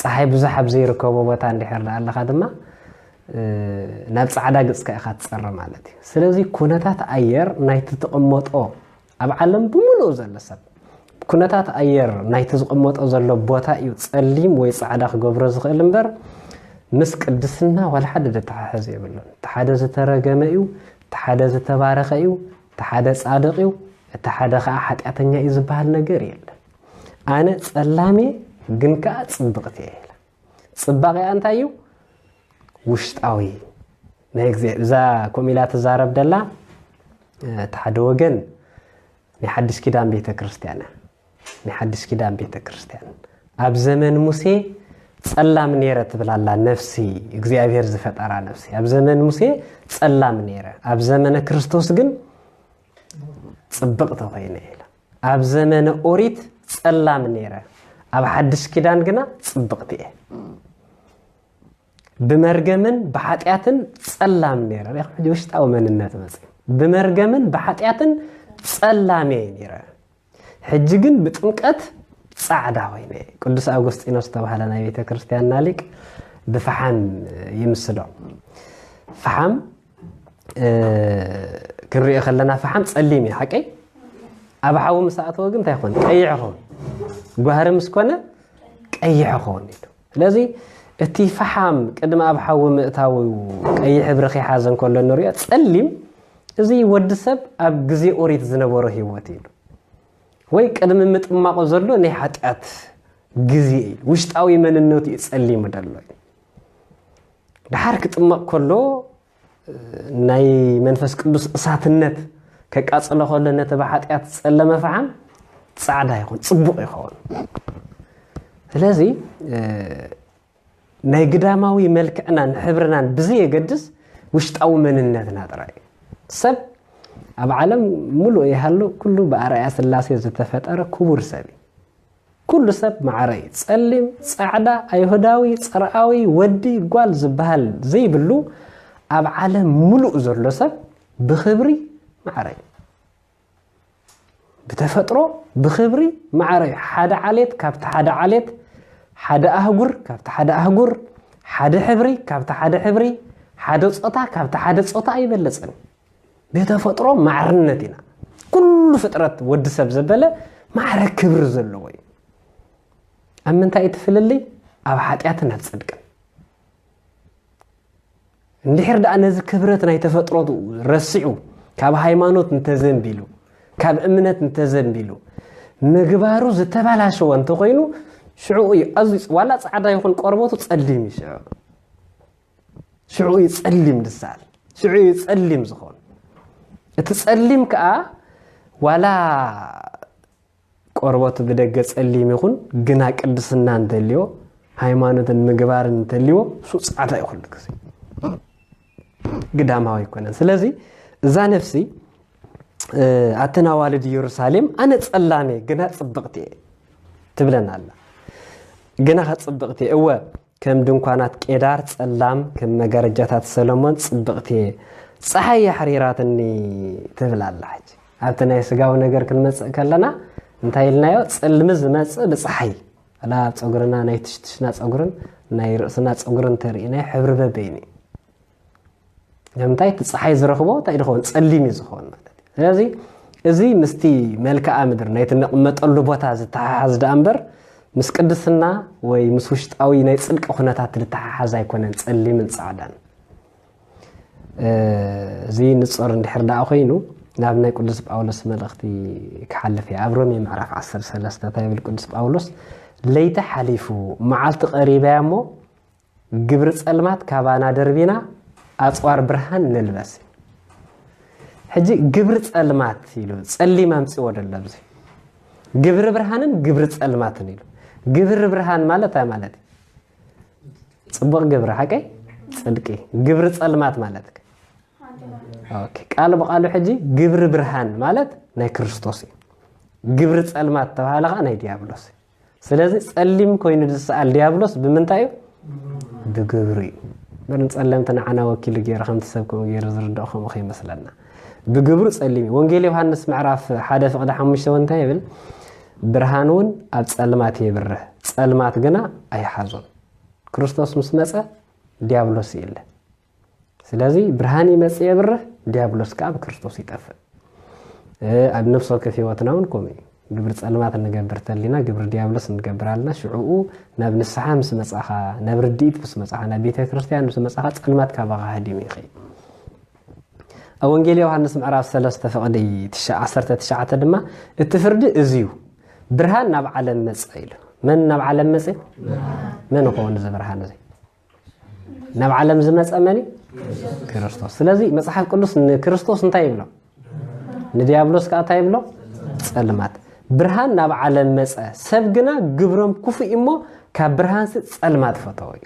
ጸሓይ ብዙሕ ኣብ ዘይርከቦ ቦታ እንድሕር ደኣ ኣለኻ ድማ ናብ ጻዕዳ ግጽካ ኢኻ ትጸረ ማለት እዩ። ስለዚ ኩነታት ኣየር ናይቲ ትቕመጦ ኣብ ዓለም ብምሉኡ ዘሎ ሰብ ኩነታት ኣየር ናይቲ ዝቕመጦ ዘሎ ቦታ እዩ ጸሊም ወይ ጻዕዳ ክገብሮ ዝኽእል እምበር ምስ ቅድስና ዋላ ሓደ ዘተሓሕዝ የብሉን። እቲ ሓደ ዝተረገመ እዩ፣ እቲ ሓደ ዝተባረኸ እዩ፣ እቲ ሓደ ጻድቕ እዩ፣ እቲ ሓደ ኸኣ ሓጢኣተኛ እዩ ዝበሃል ነገር የለን። ኣነ ጸላም እየ፣ ግን ከኣ ጽብቕቲ እየ ኢላ። ጽባቐኣ እንታይ እዩ? ውሽጣዊ ናይ እግዚኣብሔር እዛ ከምኡ ኢላ ትዛረብ ደላ እቲ ሓደ ወገን ናይ ሓድሽ ኪዳን ቤተ ክርስቲያን እያ። ናይ ሓድሽ ኪዳን ቤተ ክርስቲያን ኣብ ዘመን ሙሴ ጸላም ነይረ ትብል ኣላ ነፍሲ እግዚኣብሔር ዝፈጠራ ነፍሲ ኣብ ዘመን ሙሴ ጸላም ነይረ ኣብ ዘመነ ክርስቶስ ግን ጽብቕቲ ኮይነ ኢላ ኣብ ዘመነ ኦሪት ጸላም ነይረ ኣብ ሓድሽ ኪዳን ግና ጽብቕቲ እየ ብመርገምን ብሓጢኣትን ጸላም ነይረ ሕጂ ውሽጣዊ መንነት መፅ ብመርገምን ብሓጢኣትን ጸላም እየ ነይረ ሕጂ ግን ብጥምቀት ጻዕዳ ኮይነ እየ። ቅዱስ ኣውጎስጢኖስ ዝተባህለ ናይ ቤተ ክርስቲያንና ሊቅ ብፈሓም ይምስሎ። ፈሓም ክንሪኦ ከለና ፈሓም ጸሊም እዩ ሓቀይ ኣብ ሓዊ ምስ ኣእተወ ግን እንታይ ይኸውን ቀይሕ ይኸውን ጓህሪ ምስ ኮነ ቀይሕ ይኸውን ኢሉ ስለዚ እቲ ፈሓም ቅድሚ ኣብ ሓዊ ምእታዉ ቀይሕ ሕብሪ ከይሓዘ እንከሎ እንሪኦ ጸሊም እዚ ወዲ ሰብ ኣብ ግዜ ኦሪት ዝነበሮ ህይወት ኢሉ ወይ ቅድሚ ምጥማቑ ዘሎ ናይ ሓጢኣት ግዜ ኢሉ ውሽጣዊ መንነቱ እዩ ጸሊሙ ደሎ እዩ። ደሓር ክጥመቕ ከሎ ናይ መንፈስ ቅዱስ እሳትነት ከቃጽሎ ከሎ ነቲ ብሓጢኣት ዝጸለመ ፈሓም ጻዕዳ ይኹን ጽቡቕ ይኸውን ስለዚ ናይ ግዳማዊ መልክዕናን ሕብርናን ብዘየገድስ ውሽጣዊ መንነትና ጥራይ ሰብ ኣብ ዓለም ሙሉእ ይሃሉ ኩሉ ብኣርኣያ ስላሴ ዝተፈጠረ ክቡር ሰብ እዩ ኩሉ ሰብ ማዓረይ ፀሊም ፃዕዳ ኣይሁዳዊ ፅርኣዊ ወዲ ጓል ዝባሃል ዘይብሉ ኣብ ዓለም ሙሉእ ዘሎ ሰብ ብክብሪ ማዓረይ ብተፈጥሮ ብክብሪ ማዓረይ ሓደ ዓሌት ካብቲ ሓደ ዓሌት ሓደ ኣህጉር ካብቲ ሓደ ኣህጉር ሓደ ሕብሪ ካብቲ ሓደ ሕብሪ ሓደ ፆታ ካብቲ ሓደ ፆታ ኣይበለፅን ብተፈጥሮ ማዕርነት ኢና ኩሉ ፍጥረት ወዲ ሰብ ዘበለ ማዕረ ክብሪ ዘለዎ እዩ ኣብ ምንታይ እቲ ፍልልይ ኣብ ሓጢኣትን ኣብ ፅድቅን እንድሕር ደኣ ነዚ ክብረት ናይ ተፈጥሮቱ ረሲዑ ካብ ሃይማኖት እንተዘንቢሉ ካብ እምነት እንተዘንቢሉ ምግባሩ ዝተበላሸወ እንተኮይኑ ሽዑ እዩ ኣዝዩ ዋላ ፃዕዳ ይኹን ቆርበቱ ፀሊም እዩ ሽዑ ሽዑ እዩ ጸሊም ዝሰኣል ሽዑ እዩ ጸሊም ዝኾን እቲ ጸሊም ከዓ ዋላ ቆርበቱ ብደገ ጸሊም ይኹን ግና ቅድስና እንተልዮ ሃይማኖትን ምግባርን እንተልዎ እሱ ጻዕዳ እዩ ኩሉ ግዜ ግዳማዊ ኣይኮነን ስለዚ እዛ ነፍሲ ኣተን ኣዋልድ ኢየሩሳሌም ኣነ ጸላሜ ግና ጽብቕቲ እየ ትብለና ኣላ ግና ከ ጽብቕቲ እወ ከም ድንኳናት ቄዳር ጸላም፣ ከም መጋረጃታት ሰሎሞን ጽብቕቲ እየ። ጸሓይ የሕሪራትኒ ትብል ኣላ። ሕጂ ኣብቲ ናይ ስጋዊ ነገር ክንመጽእ ከለና እንታይ ኢልናዮ? ጽልሚ ዝመጽእ ብጸሓይ ላ ኣብ ጸጉርና ናይ ትሽትሽና ጸጉርን ናይ ርእስና ጸጉርን ተርኢ ናይ ሕብሪ በበይኑ እዩ። ንምንታይ እቲ ፀሓይ ዝረኽቦ እንታይ ዝኸውን ፀሊም እዩ ዝኸውን ማለት እዩ ስለዚ እዚ ምስቲ መልክዓ ምድሪ ናይቲ ንቕመጠሉ ቦታ ዝተሓሓዝ ደኣ እምበር ምስ ቅድስና ወይ ምስ ውሽጣዊ ናይ ፅድቂ ኩነታት ዝተሓሓዝ ኣይኮነን ፀሊምን ፃዕዳን እዚ ንፆር እንድሕር ደኣ ኮይኑ ናብ ናይ ቅዱስ ጳውሎስ መልእኽቲ ክሓልፍ እየ ኣብ ሮሜ ምዕራፍ 13 እንታይ ይብል ቅዱስ ጳውሎስ ለይቲ ሓሊፉ መዓልቲ ቀሪበያ እሞ ግብሪ ጸልማት ካባና ደርቢና ኣጽዋር ብርሃን ንልበስ ሕጂ ግብሪ ጸልማት ኢሉ ጸሊም ኣምጽዎ ደሎ ኣብዚ ግብሪ ብርሃንን ግብሪ ጸልማትን ኢሉ ግብሪ ብርሃን ማለት ታይ ማለት እዩ ፅቡቕ ግብሪ ሓቀይ ፅድቂ ግብሪ ጸልማት ማለት ቃል ብቃሉ ሕጂ ግብሪ ብርሃን ማለት ናይ ክርስቶስ እዩ ግብሪ ጸልማት ተባሃለ ከዓ ናይ ዲያብሎስ እዩ ስለዚ ጸሊም ኮይኑ ዝሰኣል ድያብሎስ ብምንታይ እዩ? ብግብሪ እዩ። እምበር ንጸለምቲ ንዓና ወኪሉ ገይሩ ከምቲ ሰብ ከምኡ ገይሩ ዝርድኦ ከምኡ ከይመስለና ብግብሩ ጸሊም እዩ። ወንጌል ዮሃንስ ምዕራፍ ሓደ ፍቕዲ ሓሙሽተ እውን እንታይ ይብል? ብርሃን እውን ኣብ ጸልማት የብርህ ጸልማት ግና ኣይሓዞን። ክርስቶስ ምስ መጸ ዲያብሎስ የለ። ስለዚ ብርሃን ይመጽእ የብርህ ዲያብሎስ ከኣ ብክርስቶስ ይጠፍእ ኣብ ነፍሲ ወከፍ ህይወትና እውን ከምኡ እዩ ግብሪ ጸልማት እንገብር ተሊና ግብሪ ዲያብሎስ እንገብር ኣለና ሽዕኡ ናብ ንስሓ ምስ መጻኻ ናብ ርድኢት ምስ መጻኻ ናብ ቤተ ክርስትያን ምስ መጻኻ ጸልማት ካባኻ ሃዲሙ ይኸይ ኣብ ወንጌል ዮሃንስ ምዕራፍ 3 ፍቕዲ 19 ድማ እቲ ፍርዲ እዚ እዩ ብርሃን ናብ ዓለም መጸ ኢሉ መን ናብ ዓለም መጽ መን ይኸውን እዚ ብርሃን እዚ ናብ ዓለም ዝመፀ መን እዩ ክርስቶስ ስለዚ መፅሓፍ ቅዱስ ንክርስቶስ እንታይ ይብሎ ንዲያብሎስ ከዓ እንታይ ይብሎ ፀልማት ብርሃን ናብ ዓለም መፀ ሰብ ግና ግብሮም ክፉእ እሞ ካብ ብርሃንሲ ፀልማት ፈተወ እዩ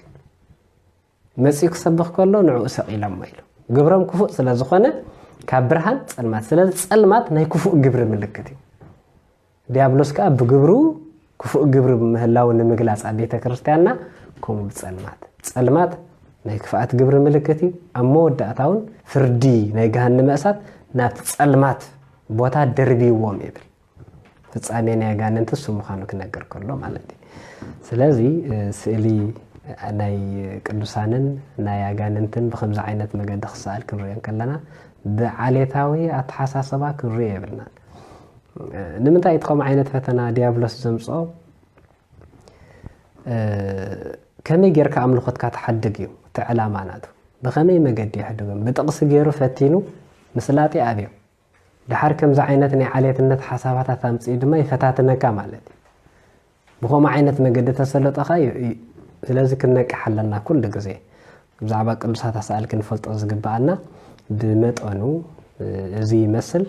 መፅኡ ክሰብኽ ከሎ ንዕኡ ሰቂሎሞ ኢሉ ግብሮም ክፉእ ስለ ዝኾነ ካብ ብርሃን ፀልማት ስለዚ ፀልማት ናይ ክፉእ ግብሪ ምልክት እዩ ዲያብሎስ ከኣ ብግብሩ ክፉእ ግብሪ ምህላዉ ንምግላጽ ኣብ ቤተ ክርስቲያንና ከምኡ ብጸልማት ጸልማት ናይ ክፍኣት ግብሪ ምልክት እዩ ኣብ መወዳእታ እውን ፍርዲ ናይ ገሃንመ እሳት ናብቲ ጸልማት ቦታ ደርብይዎም ይብል ፍጻሜ ናይ ኣጋንንቲ እሱ ምዃኑ ክነገር ከሎ ማለት እዩ ስለዚ ስእሊ ናይ ቅዱሳንን ናይ ኣጋንንትን ብከምዚ ዓይነት መገዲ ክሰኣል ክንሪኦ ከለና ብዓሌታዊ ኣተሓሳሰባ ክንሪኦ የብልናን ንምንታይ እቲ ከምኡ ዓይነት ፈተና ዲያብሎስ ዘምፅኦ ከመይ ጌርካ ኣምልኾትካ ትሓድግ እዩ እቲ ዕላማ ናቱ ብኸመይ መገዲ የሕድጎም ብጥቕሲ ገይሩ ፈቲኑ ምስላጢ ኣብዮ ድሓር ከምዚ ዓይነት ናይ ዓሌትነት ሓሳባታት ኣምፅኡ ድማ ይፈታትነካ ማለት እዩ ብኸምኡ ዓይነት መገዲ ተሰለጠኻ እዩ እዩ ስለዚ ክንነቅሕ ኣለና ኩሉ ግዜ ብዛዕባ ቅዱሳት ኣሳእል ክንፈልጦ ዝግብኣና ብመጠኑ እዚ ይመስል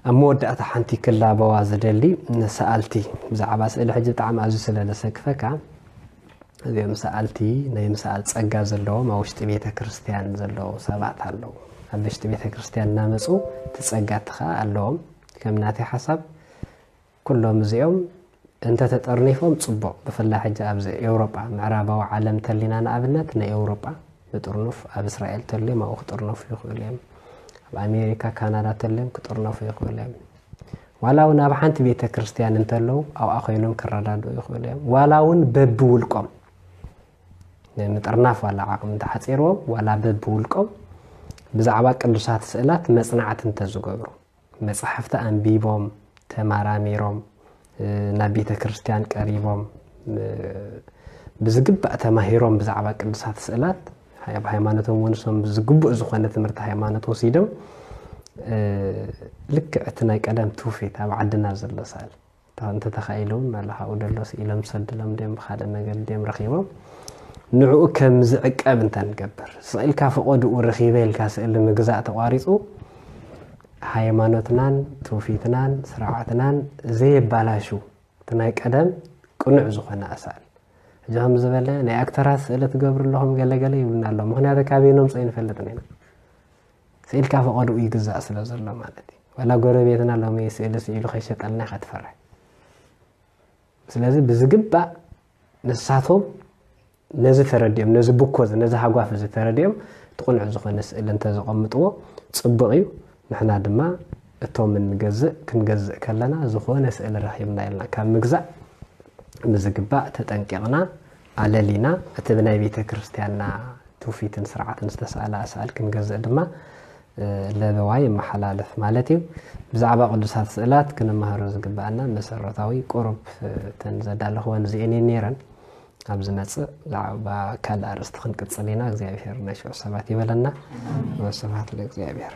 ኣብ መወዳእታ ሓንቲ ክላበዋ ዝደሊ ሰኣልቲ ብዛዕባ ስእሊ ሕጂ ብጣዕሚ ኣዝዩ ስለ ዘሰክፈካ እዚኦም ሰኣልቲ ናይ ምሰኣል ጸጋ ዘለዎም ኣብ ውሽጢ ቤተ ክርስትያን ዘለዉ ሰባት ኣለዉ ኣብ ውሽጢ ቤተ ክርስትያን እናመፁ ትጸጋ እቲ ከዓ ኣለዎም ከም ናተይ ሓሳብ ኩሎም እዚኦም እንተተጠርኒፎም ጽቡቕ ብፍላይ ሕጂ ኣብዚ ኤውሮጳ ምዕራባዊ ዓለም ተሊና ንኣብነት ንኤውሮጳ ንጥርኑፍ ኣብ እስራኤል ተልዮም ኣብኡ ክጥርነፉ ይኽእሉ እዮም ኣብ ኣሜሪካ ካናዳ ተልዮም ክጥርነፉ ይኽእሉ እዮም ዋላ እውን ኣብ ሓንቲ ቤተ ክርስቲያን እንተለዉ ኣብኣ ኮይኖም ክረዳድኡ ይኽእሉ እዮም ዋላ እውን በብውልቆም ንምጥርናፍ ዋላ ዓቕሚ እንተሓፂርዎም ዋላ በብውልቆም ብዛዕባ ቅዱሳት ስእላት መፅናዕቲ እንተዝገብሩ መጻሕፍቲ ኣንቢቦም ተማራሚሮም ናብ ቤተ ክርስቲያን ቀሪቦም ብዝግባእ ተማሂሮም ብዛዕባ ቅዱሳት ስእላት ኣብ ሃይማኖቶም ወንሶም ዝግቡእ ዝኾነ ትምህርቲ ሃይማኖት ወሲዶም ልክዕ እቲ ናይ ቀደም ትውፊት ኣብ ዓድና ዘሎ ሳል እታ እንተተኻኢለ እውን ናላ ካብኡ ደሎ ስኢሎም ሰድሎም ድዮም ብኻልእ መገዲ ድዮም ረኺቦም ንዕኡ ከም ዝዕቀብ እንተንገብር ስቕ ኢልካ ፈቐድኡ ረኺበ ኢልካ ስእሊ ምግዛእ ተቋሪፁ ሃይማኖትናን ትውፊትናን ስርዓትናን ዘየባላሹ እቲ ናይ ቀደም ቅኑዕ ዝኾነ ኣሳእል እዚ ከም ዝበለ ናይ ኣክተራት ስእሊ ትገብሩ ኣለኹም ገለገለ ይብሉና ኣሎ ምክንያቱ ካበይኖም ፀ ይንፈልጥ ኒና ስእልካ ፈቐድኡ ይግዛእ ስለ ዘሎ ማለት እዩ ዋላ ጎረቤትና ሎሚ ስእሊ ስኢሉ ከይሸጠልና ኢኻ ትፈርሕ ስለዚ ብዝግባእ ንሳቶም ነዚ ተረዲኦም ነዚ ብኮ እዚ ነዚ ሃጓፍ እዚ ተረዲኦም ትቕኑዕ ዝኾነ ስእሊ እንተዘቐምጥዎ ፅቡቕ እዩ ንሕና ድማ እቶም እንገዝእ ክንገዝእ ከለና ዝኾነ ስእሊ ረኺብና ኢልና ካብ ምግዛእ ብዝግባእ ተጠንቂቕና ኣለሊና እቲ ብናይ ቤተ ክርስቲያንና ትውፊትን ስርዓትን ዝተሳእለ ኣሳእል ክንገዝእ ድማ ለበዋ የመሓላልፍ ማለት እዩ። ብዛዕባ ቅዱሳት ስእላት ክንመሃሮ ዝግብኣና መሰረታዊ ቁሩብ እተን ዘዳለኽወን እዚኤን እየን ነይረን። ኣብ ዝመጽእ ብዛዕባ ካልእ ኣርእስቲ ክንቅጽል ኢና። እግዚኣብሄር ናይ ሽዑ ሰባት ይበለና። ወስብሓት ለእግዚኣብሄር።